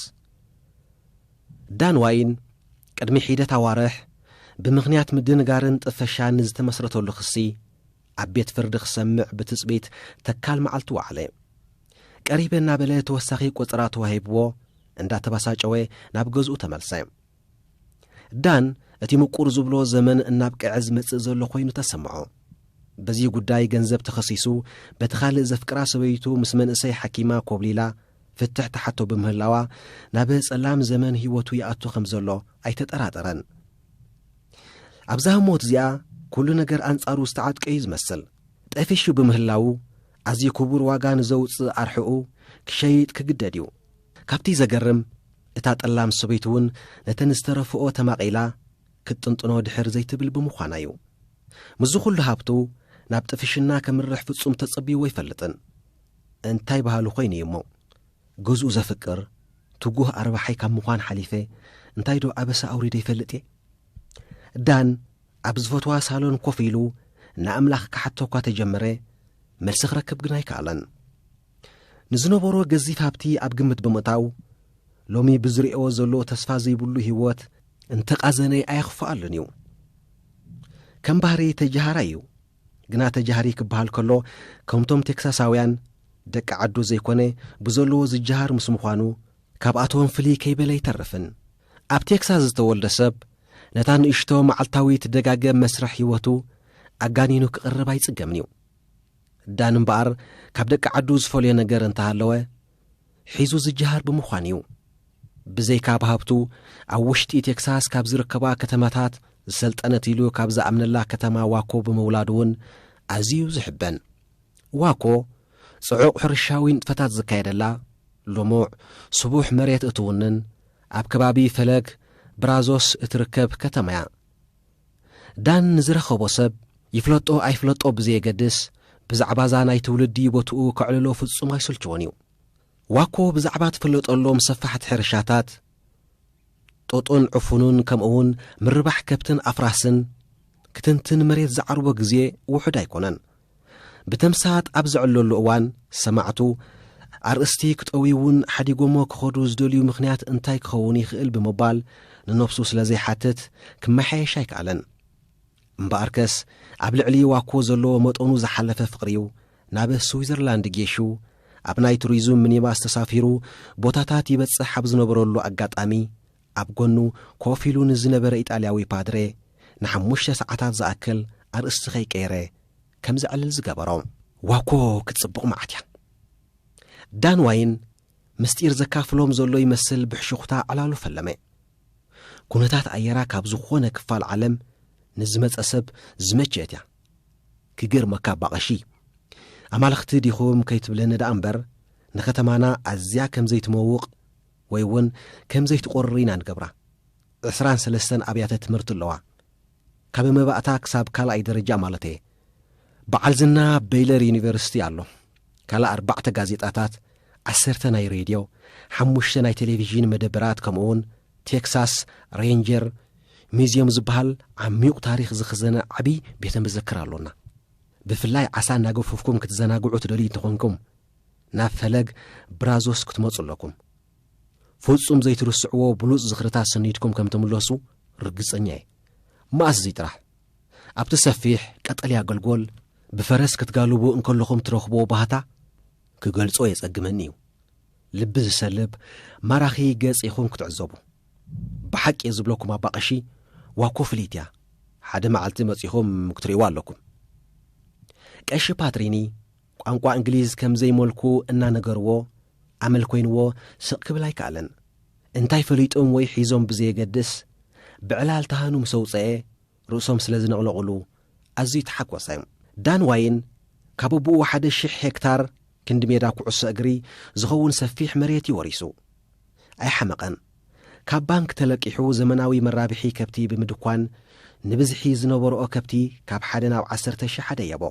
ዳን ዋይን ቅድሚ ሒደት ኣዋርሕ ብምኽንያት ምድንጋርን ጥፈሻን ንዝተመስረተሉ ክሲ ኣብ ቤት ፍርዲ ክሰምዕ ብትጽቢት ተካል መዓልቲ ወዓለ ቀሪበ እናበለ ተወሳኺ ቁጽራ ተዋሂብዎ እንዳተባሳጨወ ናብ ገዝኡ ተመልሰ ዳን እቲ ምቁር ዝብሎ ዘመን እናብቅዐ ዝመጽእ ዘሎ ኮይኑ ተሰምዖ። በዚ ጉዳይ ገንዘብ ተኸሲሱ በቲ ካልእ ዘፍቅራ ሰበይቱ ምስ መንእሰይ ሓኪማ ኮብሊላ ፍትሕ ተሓቶ ብምህላዋ ናብ ጸላም ዘመን ህይወቱ ይኣቱ ከም ዘሎ ኣይተጠራጠረን። ኣብዛ ህሞት እዚኣ ኩሉ ነገር ኣንጻሩ ዝተዓጥቀ እዩ ዝመስል። ጠፊሹ ብምህላዉ ኣዝዩ ክቡር ዋጋ ንዘውጽእ ኣርሕኡ ክሸይጥ ክግደድ እዩ። ካብቲ ዘገርም እታ ጠላም ሰበይቱ እውን ነተን ዝተረፍኦ ተማቒላ ክትጥንጥኖ ድሕር ዘይትብል ብምዃና እዩ። ምስዚ ኩሉ ሃብቱ ናብ ጥፍሽና ከምርሕ ፍጹም ተጸብይዎ ኣይፈልጥን። እንታይ በሃሉ ኮይኑ እዩ እሞ ገዝኡ ዘፍቅር ትጉህ ኣርባሓይ ካብ ምዃን ሓሊፈ እንታይ ዶ ኣበሳ ኣውሪደ ይፈልጥ እየ? ዳን ኣብ ዝፈትዋ ሳሎን ኮፍ ኢሉ ንኣምላኽ ክሓቶ እኳ ተጀመረ መልሲ ክረክብ ግን ኣይከኣለን። ንዝነበሮ ገዚፍ ሃብቲ ኣብ ግምት ብምእታው፣ ሎሚ ብዝርእዮ ዘሎ ተስፋ ዘይብሉ ህይወት እንተቓዘነ ኣየኽፍኣሉን እዩ። ከም ባህሪ ተጀሃራይ እዩ። ግና ተጀሃሪ ክበሃል ከሎ ከምቶም ቴክሳሳውያን ደቂ ዓዱ ዘይኮነ ብዘለዎ ዝጀሃር ምስ ምዃኑ ካብኣቶም ፍልይ ከይበለ ኣይተርፍን። ኣብ ቴክሳስ ዝተወልደ ሰብ ነታ ንእሽቶ መዓልታዊ ትደጋገም መስርሕ ህይወቱ ኣጋኒኑ ክቕርብ ኣይጽገምን እዩ። ዳን እምበኣር ካብ ደቂ ዓዱ ዝፈልዮ ነገር እንተሃለወ ሒዙ ዝጀሃር ብምዃን እዩ። ብዘይካ ኣብ ሃብቱ ኣብ ውሽጢ ቴክሳስ ካብ ዝርከባ ከተማታት ዝሰልጠነት ኢሉ ካብ ዝኣምነላ ከተማ ዋኮ ብምውላዱ እውን ኣዝዩ ዝሕበን። ዋኮ ጽዑቕ ሕርሻዊ ንጥፈታት ዝካየደላ፣ ልሙዕ ስቡሕ መሬት እትውንን፣ ኣብ ከባቢ ፈለግ ብራዞስ እትርከብ ከተማ እያ። ዳን ንዝረኸቦ ሰብ፣ ይፍለጦ ኣይፍለጦ ብዘየገድስ፣ ብዛዕባ'ዛ ናይ ትውልዲ ቦትኡ ከዕልሎ ፍጹም ኣይሰልቸዎን እዩ። ዋኮ ብዛዕባ ትፍለጠሎም ሰፋሕቲ ሕርሻታት ጡጥን ዕፉንን ከምኡ'ውን ምርባሕ ከብትን ኣፍራስን ክትንትን መሬት ዝዓርቦ ግዜ ውሑድ ኣይኮነን። ብተምሳጥ ኣብ ዘዕለሉ እዋን፣ ሰማዕቱ፣ ኣርእስቲ ክጠውይውን ሓዲጎሞ ክኸዱ ዝደልዩ ምኽንያት እንታይ ክኸውን ይኽእል ብምባል ንነብሱ ስለ ዘይሓትት ክመሓየሽ ኣይከኣለን። እምበኣርከስ ኣብ ልዕሊ ዋኮ ዘለዎ መጠኑ ዝሓለፈ ፍቕሪ'ዩ ናብ ስዊዘርላንድ ጌሹ ኣብ ናይ ቱሪዙም ሚኒባስ ተሳፊሩ ቦታታት ይበጽሕ ኣብ ዝነበረሉ ኣጋጣሚ ኣብ ጎኑ ኮፍ ኢሉ ንዝነበረ ኢጣልያዊ ፓድሬ ንሓሙሽተ ሰዓታት ዝኣክል ኣርእስቲ ከይቀየረ ከም ዘዕልል ዝገበሮ። ዋኮ ክትጽብቕ መዓት እያ። ዳን ዋይን ምስጢር ዘካፍሎም ዘሎ ይመስል ብሕሹኽታ ዕላሉ ፈለመ። ኩነታት ኣየራ ካብ ዝኾነ ክፋል ዓለም ንዝመጸ ሰብ ዝመቸት እያ። ክገርመካ እባ ቀሺ፣ ኣማልኽቲ ዲኹም ከይትብለኒ ደኣ እምበር ንከተማና ኣዝያ ከም ዘይትመውቕ ወይ እውን ከም ዘይትቆርር ኢና ንገብራ። ዕስራን ሰለስተን ኣብያተ ትምህርቲ ኣለዋ። ካብ መባእታ ክሳብ ካልኣይ ደረጃ ማለት እየ። በዓል ዝና በይለር ዩኒቨርሲቲ ኣሎ። ካልእ ኣርባዕተ ጋዜጣታት፣ ዓሰርተ ናይ ሬድዮ፣ ሓሙሽተ ናይ ቴሌቪዥን መደበራት ከምኡውን ቴክሳስ ሬንጀር ሚዝዮም ዝበሃል ዓሚዩቕ ታሪኽ ዝኽዘነ ዓብዪ ቤተ መዘክር ኣሎና። ብፍላይ ዓሳ እናገፈፍኩም ክትዘናግዑ ትደልዩ እንተኾንኩም ናብ ፈለግ ብራዞስ ክትመጹ ኣለኩም። ፍጹም ዘይትርስዕዎ ብሉጽ ዝኽርታት ሰኒድኩም ከም ትምለሱ ርግጸኛ እየ። መኣስ እዚ ጥራሕ ኣብቲ ሰፊሕ ቀጠልያ ገልጎል ብፈረስ ክትጋልቡ እንከለኹም ትረኽብዎ ባህታ ክገልጾ የጸግመኒ እዩ። ልቢ ዝሰልብ ማራኺ ገጽ ኢኹም ክትዕዘቡ። ብሓቂ እየ ዝብለኩም ኣባ ቀሺ ዋኮ ፍልይቲ እያ። ሓደ መዓልቲ መጺኹም ክትርእይዋ ኣለኩም። ቀሺ ፓትሪኒ ቋንቋ እንግሊዝ ከም ዘይመልኩ እናነገርዎ፣ ኣመል ኮይንዎ ስቕ ክብል ኣይከኣለን። እንታይ ፈሊጦም ወይ ሒዞም ብዘየገድስ፣ ብዕላል ተሃኑ ምስ ኣውጸኤ፣ ርእሶም ስለ ዝነቕነቕሉ ኣዝዩ ተሓጎሰ። ዳን ዋይን ካብ ኣቦኡ ሓደ ሽሕ ሄክታር፣ ክንዲ ሜዳ ኩዕሶ እግሪ ዝኸውን ሰፊሕ መሬት እዩ ወሪሱ። ኣይሓመቐን። ካብ ባንክ ተለቂሑ ዘመናዊ መራብሒ ከብቲ ብምድኳን፣ ንብዝሒ ዝነበርኦ ከብቲ ካብ ሓደ ናብ ዓሰርተ ሽሕ ኣደየቦ።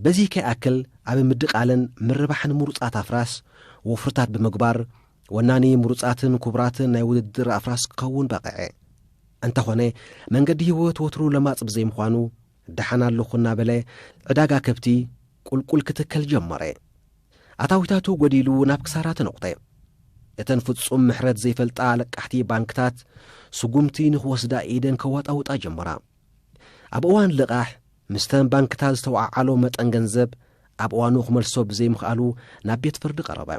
በዚ ከይኣክል ኣብ ምድቓልን ምርባሕን ምሩፃት ኣፍራስ ወፍርታት ብምግባር ወናኒ ምሩፃትን ኩቡራትን ናይ ውድድር ኣፍራስ ክኸውን በቐዐ። እንተኾነ መንገዲ ህይወት ወትሩ ለማፅ ብዘይምዃኑ ደሓን ኣለኹ እናበለ ዕዳጋ ከብቲ ቁልቁል ክትከል ጀመረ። ኣታዊታቱ ጎዲሉ ናብ ክሳራ ተነቑተ። እተን ፍፁም ምሕረት ዘይፈልጣ ኣለቃሕቲ ባንክታት ስጉምቲ ንክወስዳ ኢደን ከዋጣውጣ ጀመራ። ኣብ እዋን ልቓሕ ምስተን ባንክታት ዝተወዓዓሎ መጠን ገንዘብ ኣብ እዋኑ ክመልሶ ብዘይምኽኣሉ ናብ ቤት ፍርዲ ቀረበ።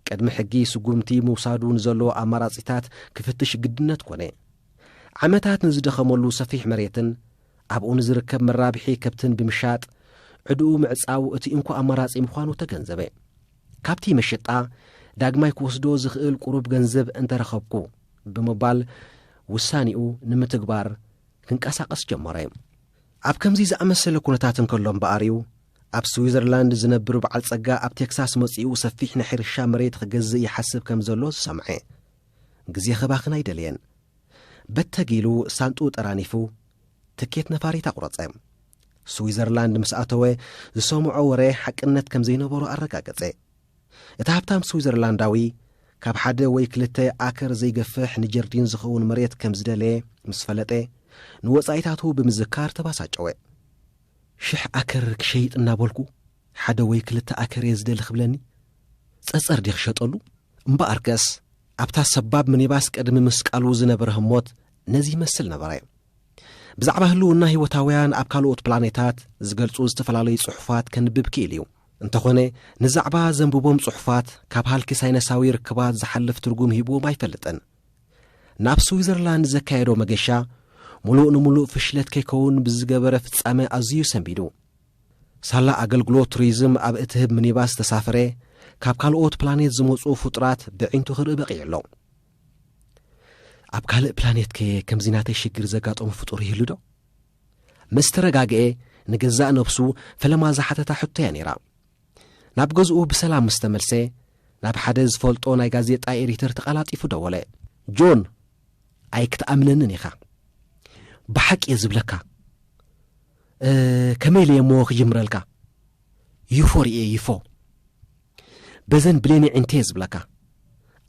ቅድሚ ሕጊ ስጉምቲ ምውሳዱ ንዘለዎ ኣማራጺታት ክፍትሽ ግድነት ኮነ። ዓመታት ንዝደኸመሉ ሰፊሕ መሬትን ኣብኡ ንዝርከብ መራብሒ ከብትን ብምሻጥ ዕድኡ ምዕጻው እቲ እንኮ ኣማራጺ ምዃኑ ተገንዘበ። ካብቲ መሸጣ ዳግማይ ክወስዶ ዝኽእል ቁሩብ ገንዘብ እንተረኸብኩ ብምባል ውሳኔኡ ንምትግባር ክንቀሳቐስ ጀመረ። ኣብ ከምዚ ዝኣመሰለ ኩነታት እንከሎ እምበኣር እዩ ኣብ ስዊዘርላንድ ዝነብር በዓል ጸጋ ኣብ ቴክሳስ መጺኡ ሰፊሕ ናይ ሕርሻ መሬት ክገዝእ ይሓስብ ከም ዘሎ ዝሰምዐ። ግዜ ከባኽን ኣይደለየን። በተግ ኢሉ ሳንጥኡ ጠራኒፉ ትኬት ነፋሪት ኣቑረጸ። ስዊዘርላንድ ምስ ኣተወ ዝሰምዖ ወረ ሓቅነት ከም ዘይነበሮ ኣረጋገጸ። እቲ ሃብታም ስዊዘርላንዳዊ፣ ካብ ሓደ ወይ ክልተ ኣከር ዘይገፍሕ ንጀርዲን ዝኸውን መሬት ከም ዝደለየ ምስ ፈለጠ፣ ንወጻኢታቱ ብምዝካር ተባሳጨወ። ሽሕ ኣከር ክሸይጥ እናበልኩ፣ ሓደ ወይ ክልተ ኣከር እየ ዝደሊ ክብለኒ? ጸጸር ድየ ክሸጠሉ? እምበኣርከስ፣ ኣብታ ሰባብ ምኒባስ ቅድሚ ምስቃሉ ዝነበረ ህሞት ነዚ ይመስል ነበረ። ብዛዕባ ህልውና ህይወታውያን ኣብ ካልኦት ፕላኔታት ዝገልጹ ዝተፈላለዩ ጽሑፋት ከንብብ ክኢል እዩ። እንተኾነ ንዛዕባ ዘንብቦም ጽሑፋት ካብ ሃልኪ ሳይነሳዊ ርክባት ዝሓልፍ ትርጉም ሂብዎም ኣይፈልጥን። ናብ ስዊዘርላንድ ዘካየዶ መገሻ ሙሉእ ንሙሉእ ፍሽለት ከይከውን ብዝገበረ ፍጻመ ኣዝዩ ሰንቢዱ ሳላ ኣገልግሎት ቱሪዝም ኣብ እትህብ ሚኒባስ ዝተሳፈረ ካብ ካልኦት ፕላኔት ዝመፁ ፍጡራት ብዒንቱ ክርኢ በቒዑ ኣሎ ኣብ ካልእ ፕላኔት ከ ከምዚ ናተይ ሽግር ዘጋጠሙ ፍጡር ይህሉ ዶ ምስ ተረጋግኤ ንገዛእ ነብሱ ፈለማ ዝሓተታ ሕቶ እያ ነይራ ናብ ገዝኡ ብሰላም ምስ ተመልሰ ናብ ሓደ ዝፈልጦ ናይ ጋዜጣ ኤዲተር ተቐላጢፉ ደወለ ጆን ኣይክትኣምነንን ኢኻ ብሓቂ እየ ዝብለካ ከመይ ኢለ እሞ ክጅምረልካ ይፎ ርእየ ይፎ በዘን ብሌነይ ዒንተየ ዝብለካ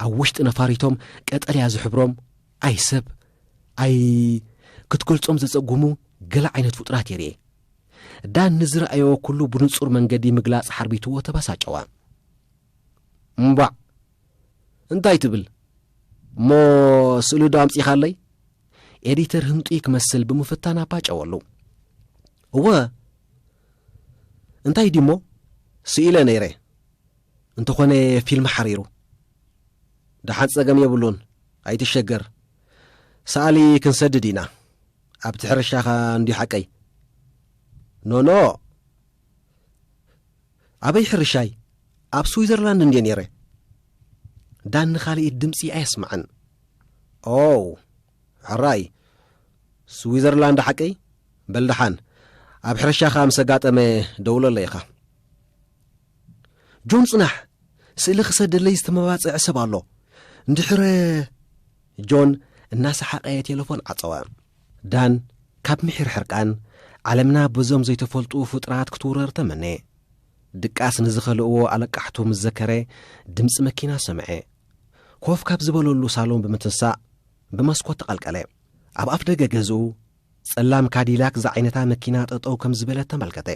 ኣብ ውሽጢ ነፋሪቶም ቀጠልያ ዝሕብሮም ኣይ ሰብ ኣይ ክትገልጾም ዘጸጉሙ ገለ ዓይነት ፍጡራት የርኤ ዳን ንዝረኣየዎ ኩሉ ብንጹር መንገዲ ምግላጽ ሓርቢትዎ ተባሳጨዋ እምባዕ እንታይ ትብል እሞ ስእሊ ዶ ኣምጺኻለይ ኤዲተር ህንጡይ ክመስል ብምፍታን ኣባጨወሉ እወ እንታይ ድዩሞ ስኢለ ነይረ እንተኾነ ፊልም ሓሪሩ ደሓን ጸገም የብሉን ኣይትሸገር ሰኣሊ ክንሰድድ ኢና ኣብቲ ሕርሻኻ እንድዩ ሓቀይ ኖኖ ኣበይ ሕርሻይ ኣብ ስዊዘርላንድ እንድየ ነይረ ዳኒ ካልኢት ድምፂ ኣየስማዕን ኦው ሕራይ ስዊዘርላንድ ሓቀይ? በል ደሓን ኣብ ሕርሻኻ ምስ ኣጋጠመ ደውለለይ ኢኻ። ጆን ጽናሕ ስእሊ ክሰደለይ ዝተመባጽዐ ሰብ ኣሎ እንድሕረ ጆን እናሰሓቐ ቴለፎን ዓጸወ ዳን ካብ ምሒር ሕርቃን ዓለምና በዞም ዘይተፈልጡ ፍጡራት ክትውረር ተመነ ድቃስ ንዝኸልእዎ ኣለቃሕቱ ምስ ዘከረ ድምፂ መኪና ሰምዐ ኮፍ ካብ ዝበለሉ ሳሎን ብምትንሳእ ብመስኮት ተቐልቀለ። ኣብ ኣፍ ደገ ገዝኡ ጸላም ካዲላክ ዝዓይነታ መኪና ጠጠው ከም ዝበለት ተመልከተ።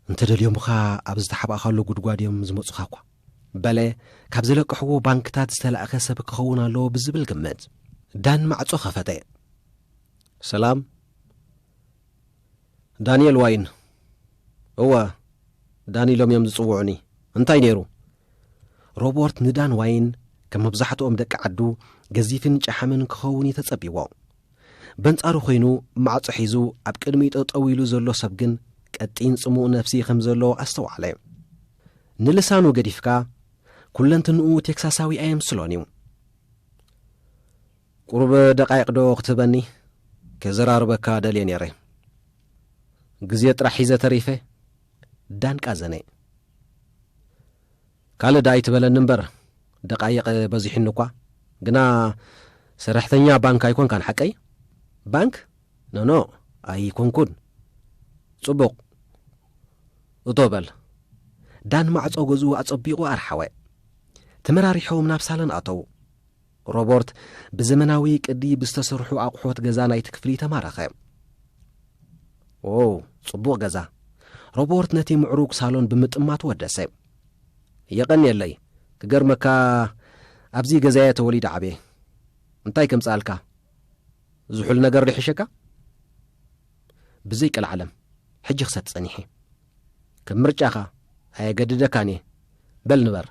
እንተደልዮምኻ ኣብ ዝተሓባእኻሉ ጉድጓድ እዮም ዝመጹኻ እኳ በለ ካብ ዘለቅሕዎ ባንክታት ዝተላእኸ ሰብ ክኸውን ኣለዎ ብዝብል ግምት ዳን ማዕጾ ኸፈተ ሰላም ዳንኤል ዋይን እወ ዳኒ ኢሎም እዮም ዝጽውዑኒ እንታይ ነይሩ ሮቦርት ንዳን ዋይን ከም መብዛሕትኦም ደቂ ዓዱ ገዚፍን ጨሓምን ክኸውን እዩ ተጸብይዎ። በንጻሩ ኮይኑ ማዕጾ ሒዙ ኣብ ቅድሚኡ ጠጠው ኢሉ ዘሎ ሰብ ግን ቀጢን ጽሙእ ነፍሲ ከም ዘለዎ ኣስተውዓለ። ንልሳኑ ገዲፍካ ኩለንትንኡ ቴክሳሳዊ ኣየምስሎን እዩ። ቁሩብ ደቃይቅ ዶ ክትህበኒ ከዘራርበካ ደልየ ነይረ ግዜ ጥራሕ ሒዘ ተሪፈ ዳንቃ ዘኔ። ካልእ ደኣ ኣይትበለኒ እምበር ደቓይቕ በዚሑኒ እኳ ግና ሰራሕተኛ ባንክ ኣይኮንካን ሓቀይ? ባንክ ኖኖ ኣይኮንኩን። ጽቡቕ እቶ በል። ዳን ማዕጾ ገዝኡ ኣጸቢቑ ኣርሓወ። ተመራሪሖም ናብ ሳሎን ኣተዉ። ሮቦርት ብዘመናዊ ቅዲ ብዝተሰርሑ ኣቑሑት ገዛ ናይቲ ክፍሊ ተማረኸ። ዎው ጽቡቕ ገዛ! ሮቦርት ነቲ ምዕሩግ ሳሎን ብምጥማት ወደሰ። የቐንየለይ! ክገርመካ ኣብዚ ገዛየ ተወሊደ ዓብየ። እንታይ ከምጽኣልካ? ዝሑል ነገር ዶ ይሕሸካ? ብዘይ ቀልዓለም ሕጂ ክሰቲ ጸኒሐ። ከም ምርጫኻ ኣየገድደካን እየ። በል ንበር።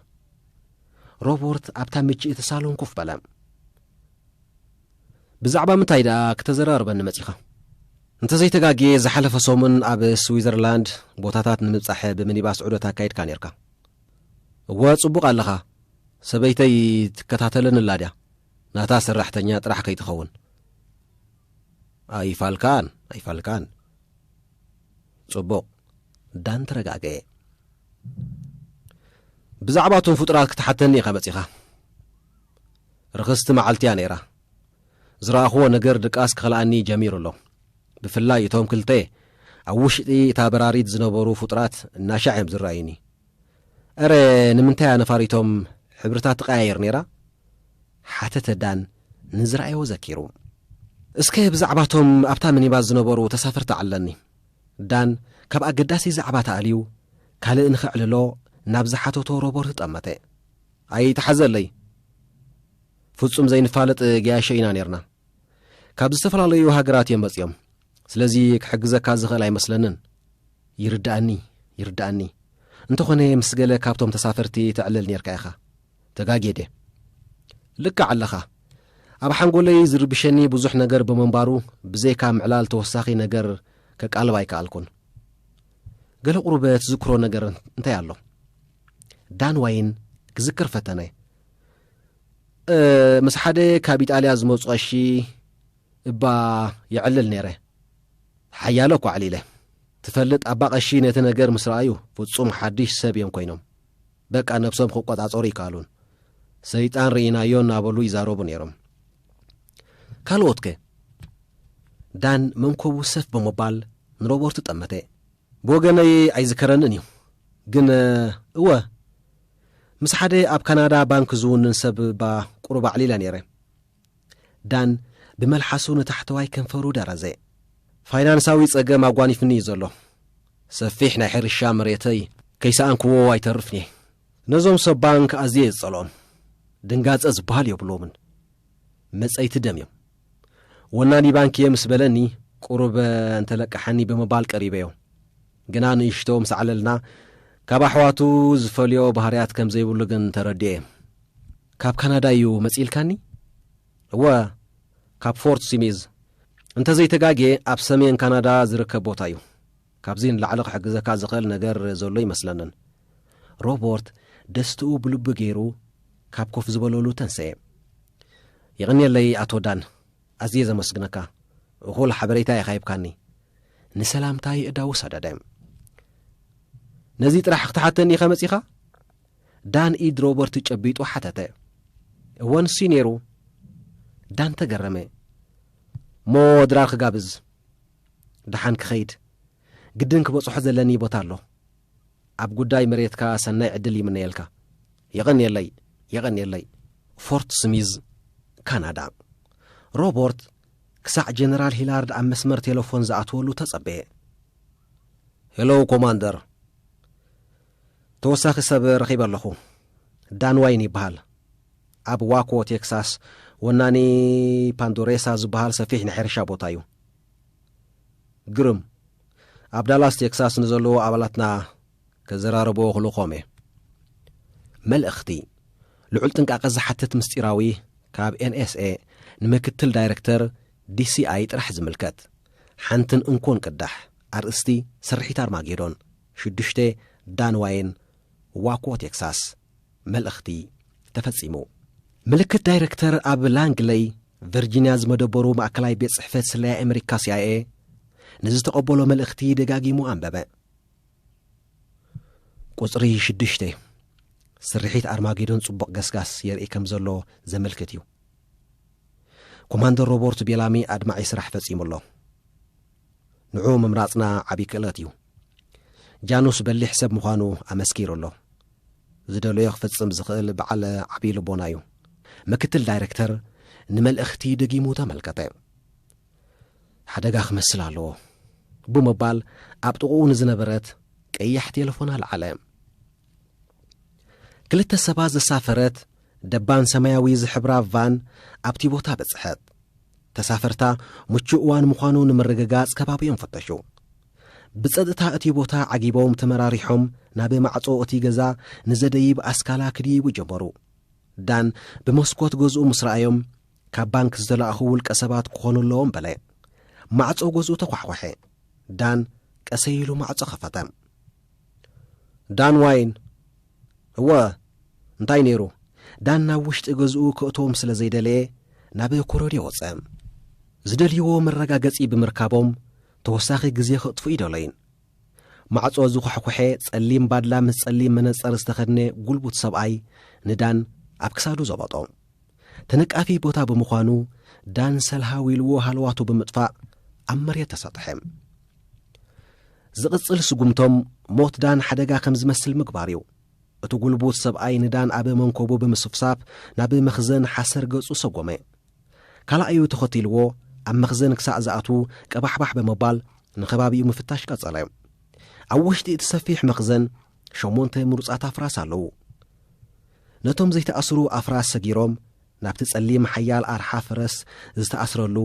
ሮቦርት ኣብታ ምችእቲ ሳሎን ኮፍ በለ። ብዛዕባ ምንታይ ደኣ ክተዘራርበኒ መጺኻ? እንተዘይተጋግየ ዝሓለፈ ሰሙን ኣብ ስዊዘርላንድ ቦታታት ንምብጻሕ ብምኒባስ ዑደት ኣካይድካ ኔርካ። እወ ጽቡቕ ኣለኻ። ሰበይተይ ትከታተለኒ ኣላ ድያ? ናታ ሰራሕተኛ ጥራሕ ከይትኸውን። ኣይፋልካን ኣይፋልካን። ጽቡቕ ዳን ተረጋገየ። ብዛዕባ እቶም ፍጡራት ክትሓተኒ ኢኻ መጺኻ። ርኽስቲ መዓልቲ እያ ነይራ። ዝረኣኹዎ ነገር ድቃስ ክኸልኣኒ ጀሚሩ ኣሎ። ብፍላይ እቶም ክልተ ኣብ ውሽጢ እታ በራሪት ዝነበሩ ፍጡራት እናሻዕ እዮም ዝረኣዩኒ። እረ ንምንታይ እያ ነፋሪቶም ሕብርታት ትቀያየር ነይራ? ሓተተ ዳን ንዝረኣዮ ዘኪሩ። እስከ ብዛዕባ እቶም ኣብታ ሚኒባስ ዝነበሩ ተሳፈርቲ ኣዕልለኒ። ዳን ካብ ኣገዳሲ ዛዕባ ተኣልዩ ካልእ ንኸዕልሎ ናብ ዝሓተቶ ሮበርት ጠመተ። ኣይትሓዘለይ። ፍጹም ዘይንፋለጥ ገያሾ ኢና ኔርና። ካብ ዝተፈላለዩ ሃገራት እዮም መጺኦም። ስለዚ ክሕግዘካ ዝኽእል ኣይመስለንን። ይርድኣኒ ይርድኣኒ። እንተኾነ ምስ ገለ ካብቶም ተሳፈርቲ ተዕልል ኔርካ ኢኻ። ተጋጌ ድየ? ልክዕ ኣለኻ። ኣብ ሓንጎለይ ዝርብሸኒ ብዙሕ ነገር ብምንባሩ ብዘይካ ምዕላል ተወሳኺ ነገር ከቃልብ ኣይከኣልኩን። ገለ ቁሩበ ትዝክሮ ነገር እንታይ ኣሎ? ዳን ዋይን ክዝክር ፈተነ። ምስ ሓደ ካብ ኢጣልያ ዝመፁ ቀሺ እባ የዕልል ነይረ ሓያለ እኳ ዕሊለ ትፈልጥ ኣባ ቀሺ ነቲ ነገር ምስ ረኣዩ ፍፁም ሓድሽ ሰብ እዮም ኮይኖም በቃ ነብሶም ክቆጻጸሩ ኣይከኣሉን። ሰይጣን ርኢናዮ እናበሉ ይዛረቡ ነይሮም። ካልኦትከ? ዳን መንኮቡ ሰፍ ብምባል ንሮበርት ጠመተ። ብወገነይ ኣይዝከረንን እዩ ግን እወ ምስ ሓደ ኣብ ካናዳ ባንክ ዝውንን ሰብ እባ ቁሩብ ኣዕሊለ ነይረ። ዳን ብመልሓሱ ንታሕተዋይ ከንፈሩ ደረዘ። ፋይናንሳዊ ጸገም ኣጓኒፍኒ እዩ ዘሎ። ሰፊሕ ናይ ሕርሻ መሬተይ ከይሰኣንክዎ ኣይተርፍን እየ። ነዞም ሰብ ባንክ ኣዝየ እየ ዝጸልኦም። ድንጋጸ ዝበሃል የብሎምን። መጸይቲ ደም እዮም። ወናኒ ባንክ እየ ምስ በለኒ ቁሩብ እንተለቀሓኒ ብምባል ቀሪበዮ። ግና ንእሽቶ ምስ ዓለልና ካብ ኣሕዋቱ ዝፈልዮ ባህርያት ከም ዘይብሉ ግን ተረዲኤ። ካብ ካናዳ እዩ መጺእልካኒ? እወ፣ ካብ ፎርት ሲሚዝ። እንተ ዘይተጋግየ ኣብ ሰሜን ካናዳ ዝርከብ ቦታ እዩ። ካብዚ ንላዕሊ ክሕግዘካ ዝኽእል ነገር ዘሎ ኣይመስለንን። ሮቦርት ደስትኡ ብልቡ ገይሩ ካብ ኮፍ ዝበለሉ ተንሰየ። የቐንየለይ ኣቶ ዳን። ኣዝየ ዘመስግነካ እኹል ሓበሬታ ኢኻ ሂብካኒ። ንሰላምታ የእዳዉ ሰደደ። ነዚ ጥራሕ ክትሓተኒ ኢኻ መጺኻ? ዳን ኢድ ሮበርት ጨቢጡ ሓተተ። እወን ሲ ነይሩ። ዳን ተገረመ። ሞ ድራር ክጋብዝ ደሓን ክኸይድ ግድን ክበጽሖ ዘለኒ ቦታ ኣሎ። ኣብ ጉዳይ መሬትካ ሰናይ ዕድል ይምነየልካ። የቐንየለይ! የቐንየለይ! ፎርት ስሚዝ፣ ካናዳ። ሮቦርት ክሳዕ ጀነራል ሂላርድ ኣብ መስመር ቴለፎን ዝኣትወሉ ተጸበየ። ሄሎ ኮማንደር፣ ተወሳኺ ሰብ ረኺበ ኣለኹ። ዳን ዋይን ይበሃል። ኣብ ዋኮ ቴክሳስ ወናኒ ፓንዶሬሳ ዝበሃል ሰፊሕ ናይ ሕርሻ ቦታ እዩ። ግርም ኣብ ዳላስ ቴክሳስ ንዘለዉ ኣባላትና ከዘራረቦ ክልኾም እየ መልእኽቲ ልዑል ጥንቃቐ ዝሓትት ምስጢራዊ ካብ ኤንኤስኤ ንምክትል ዳይረክተር ዲሲኣይ ጥራሕ ዝምልከት ሓንትን እንኮን ቅዳሕ ኣርእስቲ ስርሒት ኣርማጌዶን ሽዱሽተ ዳንዋይን ዋኮ ቴክሳስ መልእኽቲ ተፈጺሙ። ምልክት ዳይረክተር ኣብ ላንግለይ፣ ቨርጂንያ ዝመደበሩ ማእከላይ ቤት ጽሕፈት ስለያ ኣመሪካ፣ ሲኣይኤ፣ ንዝተቐበሎ መልእኽቲ ደጋጊሙ ኣንበበ። ቁጽሪ ሽዱሽተ፣ ስርሒት ኣርማጌዶን ጽቡቕ ገስጋስ የርኢ ከም ዘሎ ዘመልክት እዩ። ኮማንደር ሮቦርት ቤላሚ ኣድማዒ ስራሕ ፈጺሙ ኣሎ። ንዑ ምምራጽና ዓቢ ክእለት እዩ። ጃኑስ በሊሕ ሰብ ምዃኑ ኣመስኪሩ ኣሎ። ዝደለዮ ክፍጽም ዝኽእል በዓል ዓቢ ልቦና እዩ። ምክትል ዳይረክተር ንመልእኽቲ ደጊሙ ተመልከተ። ሓደጋ ክመስል ኣለዎ ብምባል ኣብ ጥቕኡ ንዝነበረት ቀያሕ ቴለፎን ኣልዓለ። ክልተ ሰባት ዘሳፈረት ደባን ሰማያዊ ዝሕብራ ቫን ኣብቲ ቦታ በጽሐት። ተሳፈርታ ምቹእ እዋን ምዃኑ ንምርግጋጽ ከባቢኦም ፈተሹ። ብጸጥታ እቲ ቦታ ዓጊቦም ተመራሪሖም ናብ ማዕጾ እቲ ገዛ ንዘደይብ ኣስካላ ክድይቡ ጀመሩ። ዳን ብመስኮት ገዝኡ ምስ ረኣዮም ካብ ባንክ ዝተላእኹ ውልቀ ሰባት ክኾኑ ኣለዎም በለ። ማዕጾ ገዝኡ ተኳሕኳሐ። ዳን ቀሰይ ኢሉ ማዕጾ ከፈተ። ዳን ዋይን፣ እወ፣ እንታይ ነይሩ? ዳን ናብ ውሽጢ ገዝኡ ከእትዎም ስለ ዘይደለየ ናብ ኮረድዮ ወጸ። ዝደልይዎ መረጋገጺ ብምርካቦም ተወሳኺ ግዜ ከጥፍኡ ኣይደለዩን። ማዕጾ ዝኳሕኩሐ ጸሊም ባድላ ምስ ጸሊም መነጸር ዝተኸድነ ጉልቡት ሰብኣይ ንዳን ኣብ ክሳዱ ዘበጦ። ተነቃፊ ቦታ ብምዃኑ ዳን ሰልሃው ኢልዎ ሃለዋቱ ብምጥፋእ ኣብ መሬት ተሰጥሐ። ዝቕጽል ስጉምቶም ሞት ዳን ሓደጋ ከም ዝመስል ምግባር እዩ። እቲ ጉልቡት ሰብኣይ ንዳን ኣብ መንኮቡ ብምስፍሳፍ ናብ መኽዘን ሓሰር ገጹ ሰጎመ። ካልኣዩ ተኸቲልዎ ኣብ መኽዘን ክሳዕ ዝኣትዉ ቀባሕባሕ ብምባል ንኸባቢኡ ምፍታሽ ቀጸለ። ኣብ ውሽጢ እቲ ሰፊሕ መኽዘን ሸሞንተ ምሩጻት ኣፍራስ ኣለዉ። ነቶም ዘይተኣስሩ ኣፍራስ ሰጊሮም ናብቲ ጸሊም ሓያል ኣርሓ ፈረስ ዝተኣስረሉ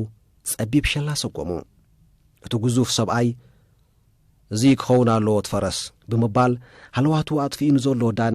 ጸቢብ ሸላ ሰጎሙ። እቲ ግዙፍ ሰብኣይ እዚ ክኸውን ኣለዎ እቲ ፈረስ ብምባል ሃለዋቱ ኣጥፊኡ ንዘሎ ዳን